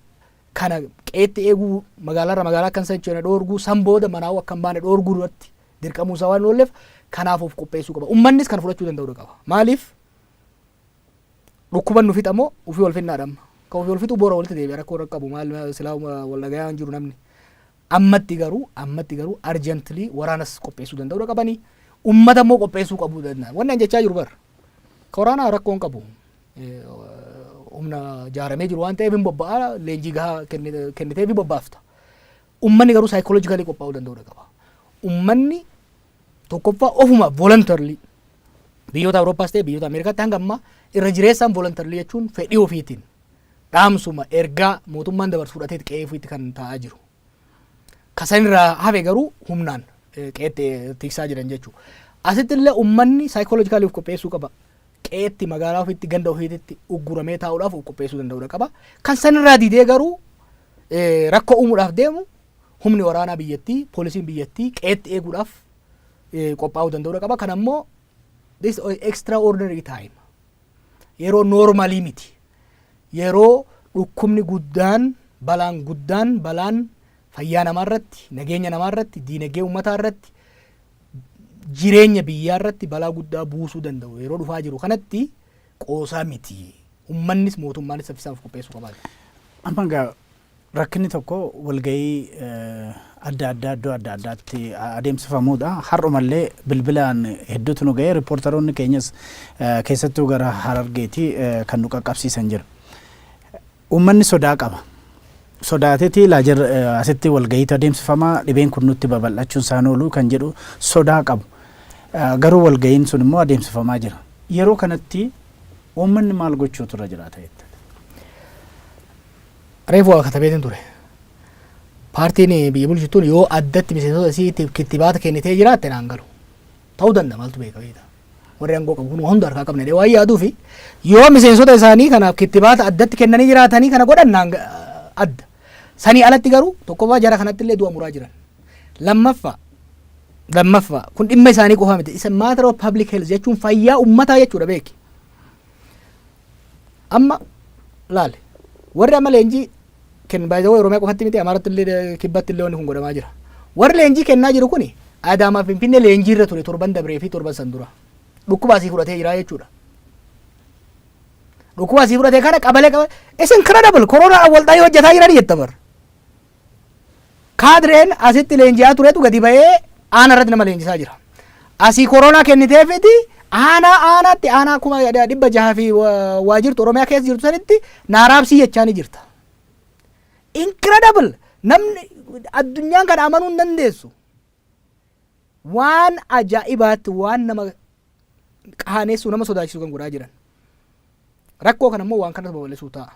kana qeetti eeguu magaalarra magaalaa akka hin sochoone dhoorguu san booda manaa'uu akka hin baane dhoorguu duratti dirqamuun isaa waan hin oolleef kanaaf of qopheessuu qaba. Ummannis kana fudhachuu danda'uu qaba. Maaliif dhukkuban nu fixa moo ufii wal finnaadha amma. Kan ufii wal fixu boora walitti deebi'a rakkoo hin qabu maal silaa wal dhagayaan jiru namni. Ammatti garuu ammatti garuu urgently waraanas qopheessuu danda'uudha qabani. Ummata immoo qopheessuu qabuu danda'an. Wanni an jechaa jiru bar. Koraanaa rakkoo hin qabu. Humna jaaramee jiru waan ta'eef hin bobba'a leenjii gahaa kennitee fi bobbaafta. Ummanni garuu saayikoloojikaalii qophaa'uu danda'uudha qaba. Ummanni tokkoffaa ofuma volontarlii biyyoota Awurooppaas ta'e biyyoota Ameerikaatti hanga ammaa irra jireessaan volontarlii jechuun fedhii ofiitiin dhaamsuma, ergaa mootummaan dabarsu fudhateeti qe'ee ofiitti kan taa'aa jiru. Ka sanirraa hafe garuu humnaan qe'eetti tiksaa jiran jechuudha. Asitti illee uummanni saayikooloojikaalii of qopheessuu qaba. Qe'eetti magaalaa ofiitti ganda ofiitti ugguramee taa'uudhaaf of qopheessuu danda'uudha qaba. Kan sanirraa didee garuu rakkoo uumuudhaaf deemu humni waraanaa biyyattii, poolisiin biyyattii qe'eetti eeguudhaaf qophaa'uu danda'uudha qaba. Kan ammoo This is extraordinary time. Yeroo noormalii miti. Yeroo dhukkubni guddaan, balaan guddaan, balaan fayyaa namaa irratti, nageenya namaa irratti, diinagdee uummataa irratti, jireenya biyyaa irratti balaa guddaa buusuu danda'u yeroo dhufaa jiru kanatti qoosaa miti. Uummannis mootummaanis saffisaan of qopheessuu qabaata. Amma egaa Rakkinni tokko walga'ii adda addaa iddoo adda addaatti adeemsifamuudha. Har'umallee bilbilaan hedduutu nu ga'e. Riippoortaroonni keenyas keessattuu gara Harargeeti kan nu qaqqabsiisan jira. Uummanni sodaa qaba. Sodaateeti laa jir asitti walga'iitu adeemsifama dhibeen kun nutti babal'achuun isaan oolu kan jedhu sodaa qabu. Garuu walga'iin sun immoo adeemsifamaa jira. Yeroo kanatti uummanni maal gochuutu irra jiraata jetta? Reefu waa katabeetiin ture. Paartiin biyya bulchu tun yoo addatti miseensota isiitiif kittibaata kennitee jiraatte naan galu. Ta'uu danda'a maaltu beeka beekta. Warri aangoo qabu kun waa hunda harkaa qabna jedhee waan yaaduufi yoo miseensota isaanii kanaaf kittibaata addatti kennanii jiraatanii kana godhan naan ga- adda. Sanii alatti garuu tokkoffaa jara kanatti illee du'a muraa jiran. Lammaffaa lammaffaa kun dhimma isaanii qofaa miti. Isa matter of public health jechuun fayyaa ummataa jechuudha beeki. Amma laali warri amma leenjii kennu baay'ee Oromiyaa qofatti miti Amaaratti illee kibbatti illee wanni kun godhamaa jira. Warri leenjii kennaa jiru kuni Adaamaa Finfinnee leenjii irra ture torban dabree fi torban san dura. Dhukkubaa sii fudhatee jira jechuudha. Dhukkubaa sii fudhatee kana qabalee qabalee. It's incredible. Koronaadhaan wal ta'anii hojjetaa jiranii jetta bar. Kaadreen asitti leenji'aa turetu gadi ba'ee aana irratti nama leenjisaa jira. Asii koronaa kenniteefiti aanaa aanaatti aanaa kuma dhibba jaha fi waa jirtu Oromiyaa keessa jirtu sanitti naaraabsii jechaa ni jirta. Incredible! Namni addunyaan kana amanuu hin dandeessu. Waan ajaa'ibaatti waan nama qaaneessuu nama sodaachisu kan godhaa jiran. Rakkoo kana immoo waan kanas babal'isuu ta'a.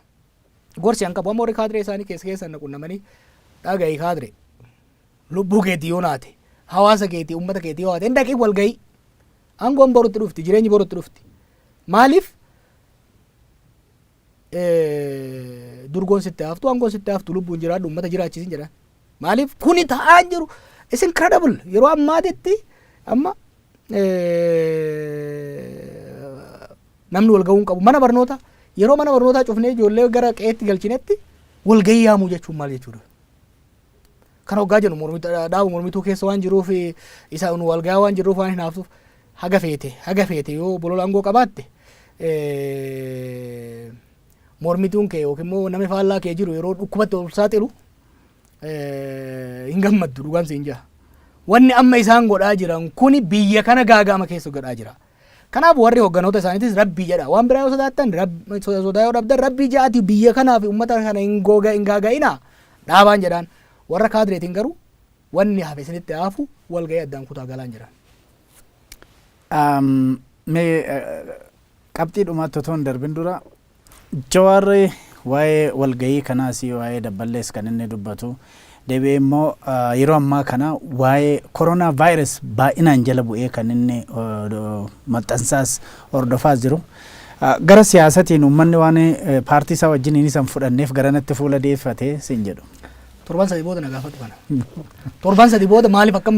Gorsi an qabu amma warri kaadiree isaanii keessa keessan na qunnamanii dhaga'i kaadire lubbuu keetii yoo naate hawaasa keetii uummata keetii yoo haate dhaqii wal ga'ii aangoon borutti dhufti jireenyi borutti dhufti maaliif durgoon sitti haftu angoon sitti haftu lubbuun jiraadhu uummata jiraachisin jedha. Maaliif kuni ta'aa jiru is incredible yeroo ammaatitti amma namni wal ga'uu hin qabu mana barnoota yeroo mana barnootaa cufnee ijoollee gara qe'eetti galchinetti wal ga'ii yaamuu jechuun maal jechuudha. Kan hoggaa jennu mormi- dhaaba mormituu keessa waan jiruuf isa nu walgayaa waan jirruuf waan hinaaftuuf haga feete haga feete yoo bolola aangoo qabaatte eh, mormituun kee yookiin immoo namni faallaa kee jiru yeroo dhukkubatti ol saaxilu eh, hin gammaddu dhugaan siin jaa. Wanni amma isaan godhaa jiran kuni biyya kana gaaga'ama keessa godhaa jira. Kanaaf warri hogganoota isaaniitis rabbii jedha. Waan biraa yoo sodaattan, rab- so- sodaa yoo dhabdan rabbii ja'aati biyya kanaa fi uummata kana hin googa- hin gaaga'inaa dhaabaan jedhaan. Warra kaadireetiin garuu wanni hafe isinitti haafu walga'ii addaan kutaa galaan jedhaan. Am, mee eh, qabxii dhumaatti otoo hin darbin dura Jawaar waa'ee walgahii kanaas, waa'ee Dabballees kan inni dubbatu. Deebi'ee immoo yeroo ammaa kana waa'ee Corona Virus baay'inaan jala bu'ee kan inni maxxansaas hordofaas jiru. Gara siyaasatiin uummanni waan paartii isaa wajjiniin isan fudhanneef garanatti fuula deeffate siin jedhu. Torban sadii booda na gaafadhu kana. Torban sadii booda maaliif akka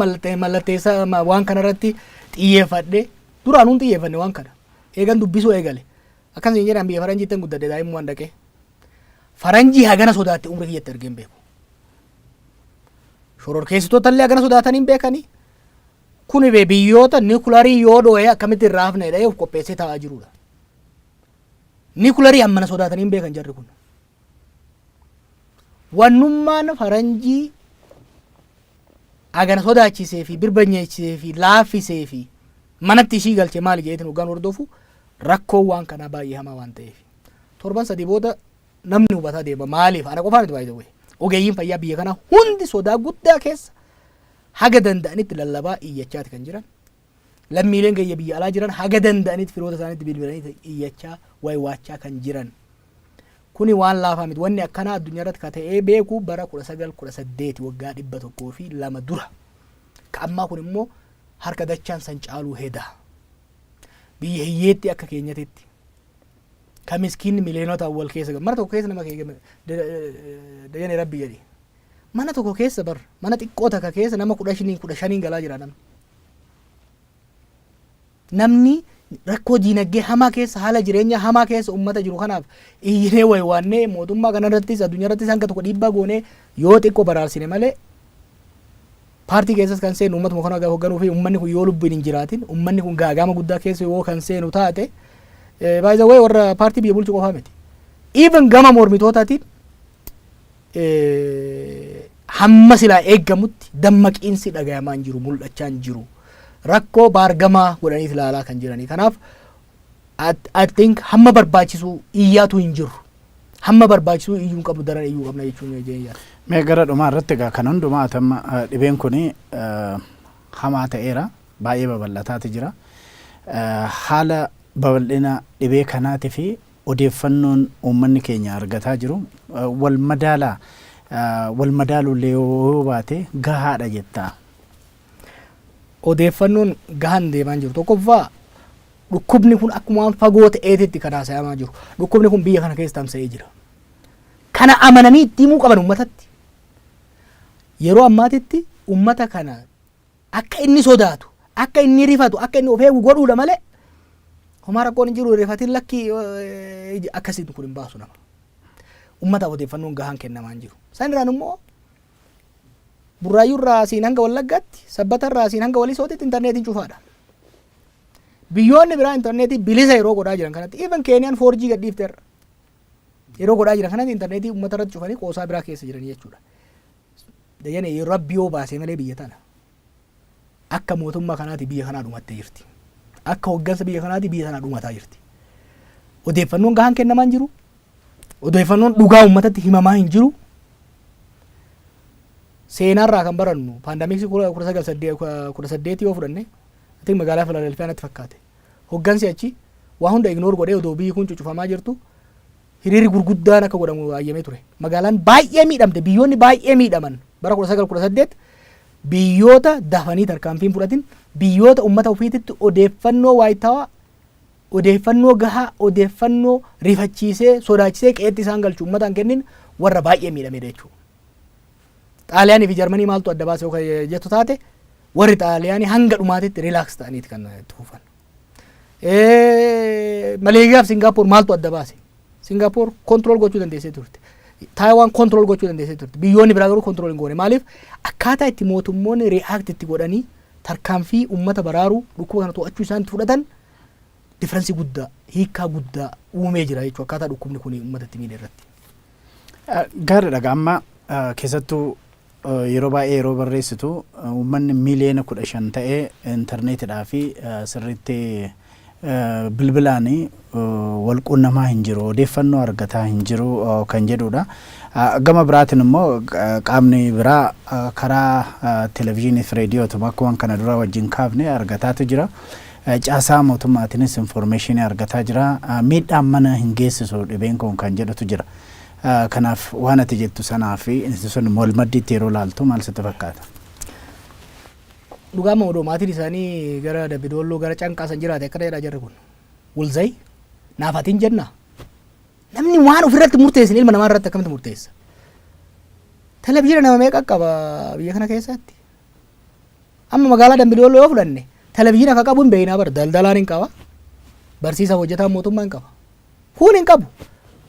mallatteessaa waan kanarratti xiyyeeffadhe duraan hin xiyyeeffanne waan kana. Eegan dubbisuu eegale. Akkas nuun jedhan biyya faranjiittan guddadhe daa'immumaan dhaqee. Faranjii hagana sodaatte umrii kiyyatti argee hin beeku. Shororkeessitoota illee hagana sodaatanii hin beekanii. Kuni bee biyyoota nikularii yoo dhoo'ee akkamitti irraa hafna jedhee of qopheessee taa'aa jirudha. Nikularii hammana sodaatanii hin beekan jarri kun. Wannummaan faranjii agana sodaachisee fi birbanyeechisee fi laaffisee fi manatti ishii galche maali jedheetiin hoggaan hordofu rakkoon waan kanaa baay'ee hamaa waan ta'eef. Torban sadii booda namni hubataa deema maaliif ana qofaa miti baay'ee ogeeyyiin fayyaa biyya kanaa hundi sodaa guddaa keessa haga danda'anitti lallabaa iyyachaati kan jiran. Lammiileen keenya biyya alaa jiran haga danda'anitti firoota isaaniitti bilbilanii iyyachaa waywaachaa kan jiran. Kuni waan laafaa miti. Wanni akkanaa addunyaa irratti ka ta'ee beeku bara 1918 waggaa 102 dura. Ka ammaa kun immoo harka dachaan san caaluu heda. Biyya hiyyeetti akka keenyatitti ka miskiinni miliyoonota wal keessa galu. Mana tokko keessa nama keenya dajanee rabbi jedhi. Mana tokko keessa bar mana xiqqoo takka keessa nama kudha shaniin kudha shaniin galaa jira namni. Namni rakkoo diinaggee hamaa keessa haala jireenyaa hamaa keessa ummata jiru kanaaf iyyinee waywaannee mootummaa kanarrattis addunyaa irrattis hanga tokko dhiibbaa goonee yoo xiqqoo baraarsine malee paartii keessas kan seenu ummatuma kana gaafa hogganuu fi ummanni kun yoo lubbuun hin jiraatin ummanni kun gaagaama guddaa keessa yoo kan seenu taate baay'ee warra paartii biyya bulchu qofaa miti. Even gama mormitootaatiin hamma silaa eeggamutti dammaqiinsi dhagayamaa hin jiru mul'achaa hin jiru rakkoo baargamaa godhanii ilaalaa kan jiranii kanaaf I think hamma barbaachisu iyyaatu hin jiru hamma barbaachisu iyyuu hin qabnu daran iyyuu qabna jechuun jeenyaa. Mee gara dhumaa irratti egaa kan hundumaa atamma dhibeen kun hamaa ta'eera baay'ee babal'ataati jira haala babal'ina dhibee kanaatii fi Odeeffannoon uummanni keenya argataa jiru wal madaalaa? Wal madaaluu illee yoo baate gahaa dha jettaa? Odeeffannoon gahaan hin deemaa hin jiru. Tokkoffaa dhukkubni kun akkuma waan fagoo ta'eetitti kan haasayamaa jiru. Dhukkubni kun biyya kana keessa tamsa'ee jira. Kana amananii itti himuu qaban uummatatti. Yeroo ammaatitti uummata kana Akka inni sodaatu, akka inni rifatu, akka inni of eegu godhuudha malee homaa rakkoon hin jiru rifatiin lakki akkasiin kun hin baasu nama. Ummataaf odeeffannoon gahaan kennamaa hin jiru. San irraan immoo burraayyuu irraa siin hanga wallaggaatti, sabbata irraa siin hanga walisootitti intarneetiin cufaadha. Biyyoonni biraa intarneetii bilisa yeroo godhaa jiran kanatti, even Keeniyaan 4G gadhiifteerra. Yeroo godhaa jiran kanatti intarneetii uummata irratti cufanii qoosaa biraa keessa jiran jechuudha. Dajanee yoo rabbi yoo baasee malee biyya tana akka mootummaa kanaati biyya kanaa dhumattee jirti. Akka hoggansa biyya kanaati biyya tanaa dhumataa jirti. Odeeffannoon gahaan kennamaa hin jiru. Odeeffannoon dhugaa uummatatti himamaa hin jiru. Seenaarraa kan barannu paandamiksii kudha sagal saddeet yoo fudhanne I think magaalaa Filadelfiyaa natti fakkaate. Hoggansi achi waa hunda ignore godhee odoo biyyi kun cucufamaa jirtu hiriirri gurguddaan akka godhamu hayyamee ture. Magaalaan baay'ee miidhamte, biyyoonni baay'ee miidhaman bara 1918 biyyoota dafanii tarkaanfiin fudhatin biyyoota ummata ofiititti odeeffannoo waayitaawaa odeeffannoo gahaa odeeffannoo rifachiisee sodaachisee qe'eetti isaan galchu ummataan kennin warra baay'ee miidhamedha jechuudha. Xaaliyaanii fi Jarmanii maaltu adda baase yoo kan jettu taate warri Xaaliyaanii hanga dhumaatitti rilaaks ta'aniiti kan itti fufan. Eh, Maleeziyaa fi Singaapoor maaltu adda baase? Singaapoor kontirool gochuu dandeessee turte. Taayiwaan kontirool gochuu dandeessee turte. Biyyoonni biraa garuu kontirool hin goone. Maaliif? Akkaataa itti mootummoonni riyaakti itti godhanii tarkaanfii uummata baraaruu dhukkuba kana to'achuu isaan itti fudhatan difference guddaa, hiikkaa guddaa uumee jira jechuudha akkaataa dhukkubni kun uummata itti miidhe irratti. Gaariidha egaa amma keessattuu yeroo baay'ee yeroo barreessitu uummanni miiliyoona kudha shan ta'ee intarneetidhaa fi sirriitti bilbilaan wal quunnamaa hin jiru odeeffannoo argataa hin jiru kan jedhudha. Gama biraatiin immoo qaamni biraa karaa televezyiinii fi reediyootuma akkuma kana dura wajjin kaafne argataatu jira. Caasaa mootummaatinis infoormeeshinii argataa jira. Miidhaan mana hin geessisu dhibeen kun kan jedhutu jira. Kanaaf waan ati jettu sanaa fi inni sun wal maddiitti yeroo ilaaltu maal sitti fakkaata? Dhugaa amma odoo maatiin isaanii gara Dabbi Doolloo gara Canqaa san jiraate akkana jedhaa jarri kun. Wulzay naaf ati hin jennaa? Namni waan ofirratti murteessin ilma namaa irratti akkamitti murteessa? Televizyiina nama meeqa qaba biyya kana keessatti? Amma magaalaa Dambi Doolloo yoo fudhanne televizyiina akka qabu hin beeknaa bar daldalaan hin qaba barsiisaaf hojjetaan mootummaa hin qaba. Kun hin qabu.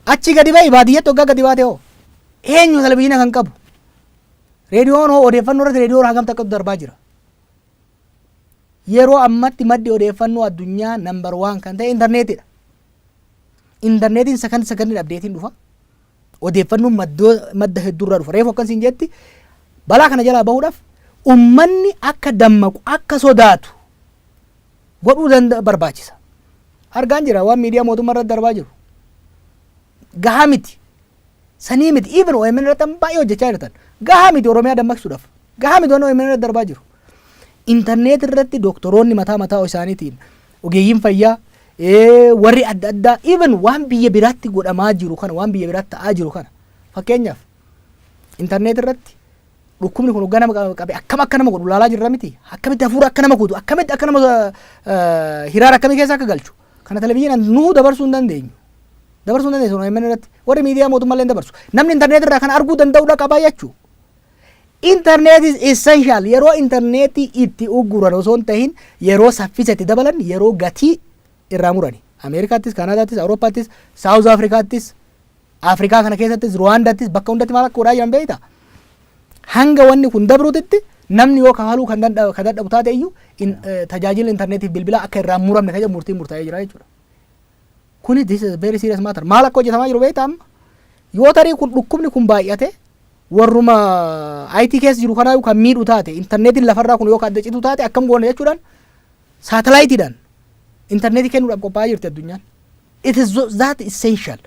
Achi gadi ba'i baadiyyatti hoggaa gadi baate hoo eenyu televizyiina kan qabu? Reediyoon hoo odeeffannoo irratti reediyoon hagam takkatu darbaa jira. Yeroo ammatti maddi odeeffannoo addunyaa nambar waan kan ta'e intarneetiidha. Intarneetiin sakandi sakandiin abdeetiin dhufa. Odeeffannoon madda hedduurraa dhufa. Reefu akkan siin jetti balaa kana jalaa bahuudhaaf ummanni akka dammaqu akka sodaatu godhuu danda barbaachisa. Argaan jira waan miidiyaa mootummaa irratti darbaa jiru. Gahaa miti. Sanii miti. Even OMN irratti baay'ee hojjechaa jirtan. Gahaa miti Oromiyaa dammaqsuudhaaf. Gahaa miti waan OMN irratti darbaa jiru. Interneet irratti doktoroonni mataa mataa isaaniitiin ogeeyyiin fayyaa warri adda addaa even waan biyya biraatti godhamaa jiru kana waan biyya biraatti ta'aa jiru kana fakkeenyaaf interneet irratti dhukkubni kun hoggaa nama qabe akkam akka nama godhu laalaa jirra miti akkamitti hafuura akka nama kutu akkamitti akka nama hiraara akkamii keessa akka galchu kana televizyiinaan nuu dabarsuu hin dandeenyu. Dabarsuu hin dandeenyu irratti warri miidiyaa mootummaa illee dabarsu namni interneet irraa kana arguu danda'udha qabaa jechuudha. Internet is essential. Yeroo interneetii itti ugguran osoo hin tahin yeroo saffisa itti dabalan yeroo gatii irraa murani. Ameerikaattis, Kaanaadaattis, Awurooppaattis, Saawuz Afrikaattis, Afrikaa kana keessattis, Ruwaandaattis bakka hundatti maal akka godhaa jiran beekta? Hanga wanni kun dabruutitti namni yoo kafaluu kan dadhabu taate iyyuu tajaajila interneetiif bilbilaa akka irraa muramne kan jedhu murtiin murtaa'ee jira jechuudha. Kuni this is very serious matter. Maal akka hojjetamaa jiru beektaa amma? Yoo tarii kun dhukkubni kun baay'ate warruma IT keessa jiru kanaa kan miidhu taate intarneetiin lafarraa kun yoo ka adda citu taate akkam goona jechuudhaan saatalaayitiidhaan intarneetii kennuudhaaf qophaa'aa jirti addunyaan. It is tho- that essential.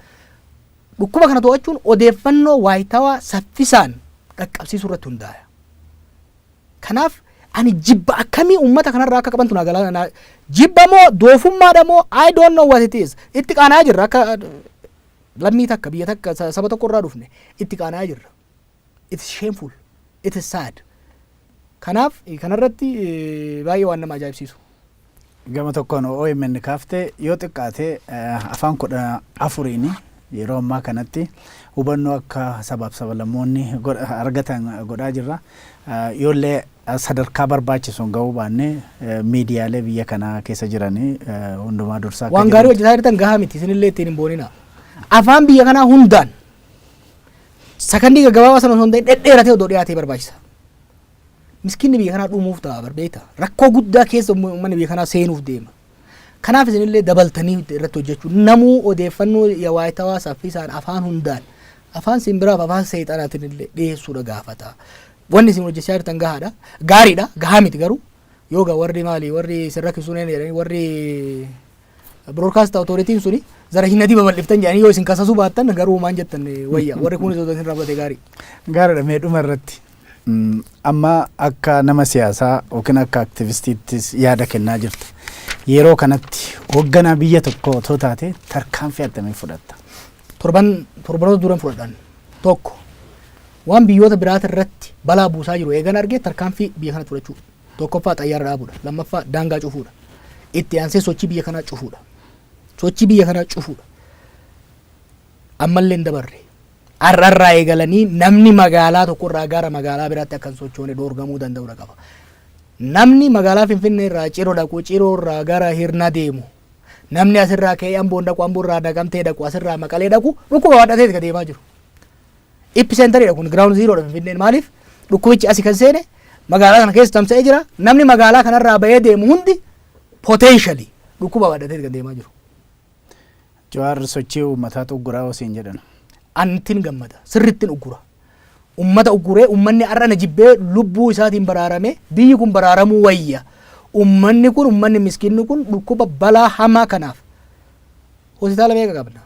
Dhukkuba kana to'achuun odeeffannoo waayitawaa saffisaan dhaqqabsiisuu irratti hundaa'e. Kanaaf ani jibba akkamii uummata kanarraa akka qabantu naa galaa naa jibba moo doofummaadha moo I don't know what it is itti qaana'aa jirra akka lammii takka biyya takka sa- saba tokko irraa dhufne itti qaana'aa jirra. It is shameful. It is sad. Kanaaf eh, kanarratti eh, baay'ee waan nama ajaa'ibsiisu. Gama tokkoon omn kaafte yoo xiqqaate afaan 14n yeroo ammaa kanatti hubannoo akka sabaaf sabalammoonni argatan godhaa jirra. Yoollee sadarkaa barbaachisuun gahuu baanne miidiyaalee biyya kanaa keessa jiran hundumaa dursaa akka Waan gaarii jirutti- hojjetaa jirtan gahaa miti isinillee ittiin hin boonina. Afaan biyya kanaa hundaan sakandii gaggabaabaa sana osoo hin ta'in dhedheeratee odoo dhiyaatee barbaachisa. Miskiinni biyya kanaa dhumuuf ta'a bar beektaa? Rakkoo guddaa keessa umma- ummanni biyya kanaa seenuuf deema. Kanaaf isinillee dabaltanii irratti hojjechuu namuu odeeffannoo yawaayitawaa saffisaan afaan hundaan afaan simbiraaf afaan seexanaatiin illee dhiyeessuudha gaafata. Wanni isin hojjechaa jirtan gahaadha. Gaariidha. Gahaa miti garuu. Yoo gaa warri maali warri isin rakkisuun jedhanii warri Broadcast Authority suni zara hin adii babal'iftan jedhanii yoo isin kasasuu baattan garuu maan jettan wayya warri kun osoo isin rabbate gaarii. Gaariidha mee dhuma irratti mm, amma akka nama siyaasaa yookiin akka aktivistiittis yaada kennaa jirta. Yeroo kanatti hoogganaa biyya tokko otoo taate tarkaanfii attamii fudhatta? Torban torbanoota duran fudhadhan tokko waan biyyoota biraata irratti balaa buusaa jiru eegan argee tarkaanfii biyya kanatti fudhachuu. Tokkoffaa xayyaara dhaabuudha. Lammaffaa daangaa cufuudha. Itti aansee sochii biyya kanaa cufuudha. Sochii biyya kanaa cufuudha. Ammallee hin dabarre. Har'arraa eegalanii namni magaalaa tokkorraa gara magaalaa biraatti akka hin sochoone dhoorgamuu danda'uudha qaba. Namni magaalaa Finfinnee irraa ciroo dhaqu ciroo irraa gara hirna deemu. Namni asirraa ka'ee amboon dhaqu amboorraa naqamtee dhaqu asirraa maqalee dhaqu dhukkuba baadhateeti ka deemaa jiru. Epicenter dha kun ground zero dha Finfinneen maaliif dhukkubichi asi kan seene magaalaa kana keessa tamsa'ee jira namni magaalaa kanarraa bahee deemu hundi potentially dhukkuba baadhatee kan deemaa jiru. Jawaar sochii uummataa xugguraa osiin jedhan. Antin gammada sirrittin uggura. Ummata ugguree ummanni har'a na jibbee lubbuu isaatiin baraarame biyyi kun baraaramuu wayya. Ummanni kun ummanni miskinni kun dhukkuba balaa hamaa kanaaf hospitaala meeqa qabna?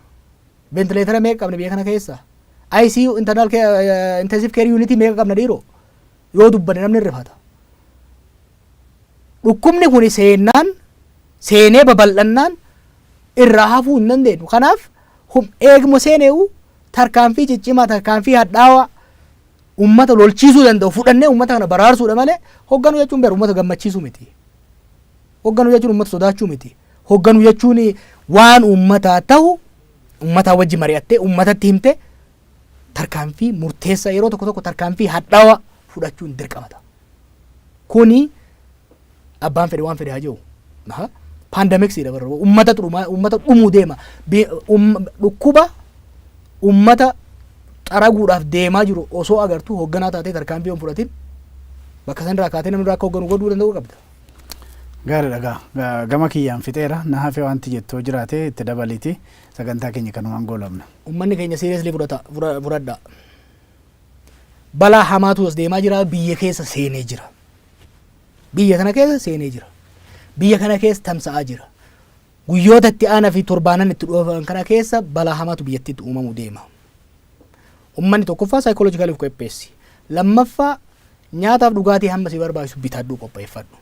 Ventileetara meeqa qabna biyya kana keessa? ICU internal care, intensive care unit meeqa qabna dhiiroo? Yoo dubbanne namni hin rifata. Dhukkubni kun seennaan seenee babal'annaan irraa hafuu hin dandeenyu. Kanaaf hum- eeguma seeneewu tarkaanfii ciccimaa tarkaanfii hadhaawaa uummata lolchiisuu danda'u fudhannee uummata kana baraarsuudha malee hogganuu jechuun beeru uummata gammachiisuu miti. Hogganuu jechuun uummata sodaachuu miti. Hogganuu jechuun waan uummataa tahu uummataa wajji mari'attee uummatatti himte tarkaanfii murteessaa yeroo tokko tokko tarkaanfii hadhaawaa fudhachuun dirqama ta'a. Kuni abbaan fedhe waan fedhe haa jiru. Paandamiksiidha bara uummata dhumaa uummata dhumuu deema. Bi- um- Dhukkuba uummata xaraguudhaaf deemaa jiru osoo agartuu hogganaa taatee tarkaanfii hin fudhatin bakka sanirraa kaatee namni irraa akka hogganu godhuu danda'uu qabda. Gaariidha egaa. Ga- Gama kiyyaan fixeera. Na hafe wanti jettu yoo jiraate itti dabaliiti sagantaa keenya kanumaan goolabna. Ummanni keenya seriously fudhata fudha- fudhadha. Balaa hamaatu as deemaa jira biyya keessa seenee jira. Biyya kana keessa seenee jira. Biyya kana keessa tamsa'aa jira. Guyyoota itti aana fi torbaanan itti dhuufan kana keessa balaa hamaatu biyyattiitti uumamu deema. Ummanni tokkoffaa psychological of qopheessi. Lammaffaa nyaataaf dhugaatii hamma si barbaachisu bitadhuu qopheeffadhu.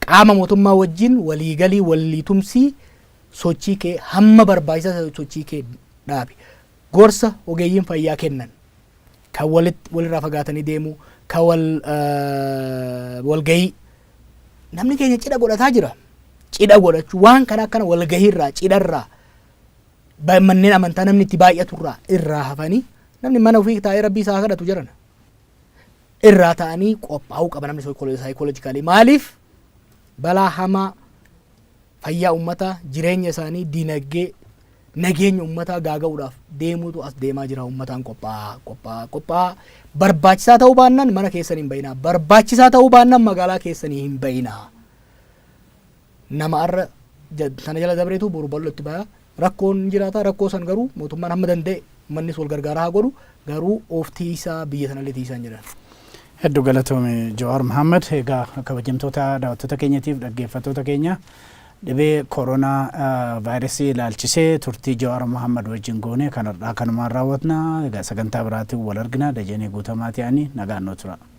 Qaama mootummaa wajjin waliigalii waliitumsii sochii kee hamma barbaachisaa sochii kee dhaabi. Gorsa ogeeyyiin fayyaa kennan kan walirraa fagaatanii deemuu, kan walgahii Namni keenya cidha godhataa jira. Cidha godhachuu waan kana akkana walgahiirraa cidharraa ba- manneen amantaa namni itti baay'aturraa irraa hafanii namni mana ofii taa'ee rabbii isaa haa kadhatu jedhana. Irraa ta'anii qophaa'uu qaba namni saayikoolojikaalii maaliif balaa hamaa fayyaa ummataa, jireenya isaanii, dinagdee, nageenya ummataa gaaga'uudhaaf deemuutu as deemaa jira ummataan qophaa'aa qophaa'aa qophaa'aa barbaachisaa ta'uu baannaan mana keessan hin ba'inaa barbaachisaa ta'uu baannaan magaalaa keessanii hin ba'inaa nama arra ja- sana jala dabreetu boru bal'ootti baya Rakkoon hin jiraata rakkoo san garuu mootummaan hamma danda'e ummannis wal gargaaraa haa godhu garuu of tiiysaa biyya sanallee tiiysaa hin jedhan. Heddu galatoomi Jawaar Mohammed. Egaa kabajamtoota daawwattoota keenyatiif dhaggeeffattoota keenya dhibee koronaa vaayirasii ilaalchisee turtii Jawaar Mohammed wajjin goone kan har'aa kanumaan raawwatna. Egaa sagantaa biraatiin wal argina. Dajanee Guutamaatii ani nagaan nuu tura.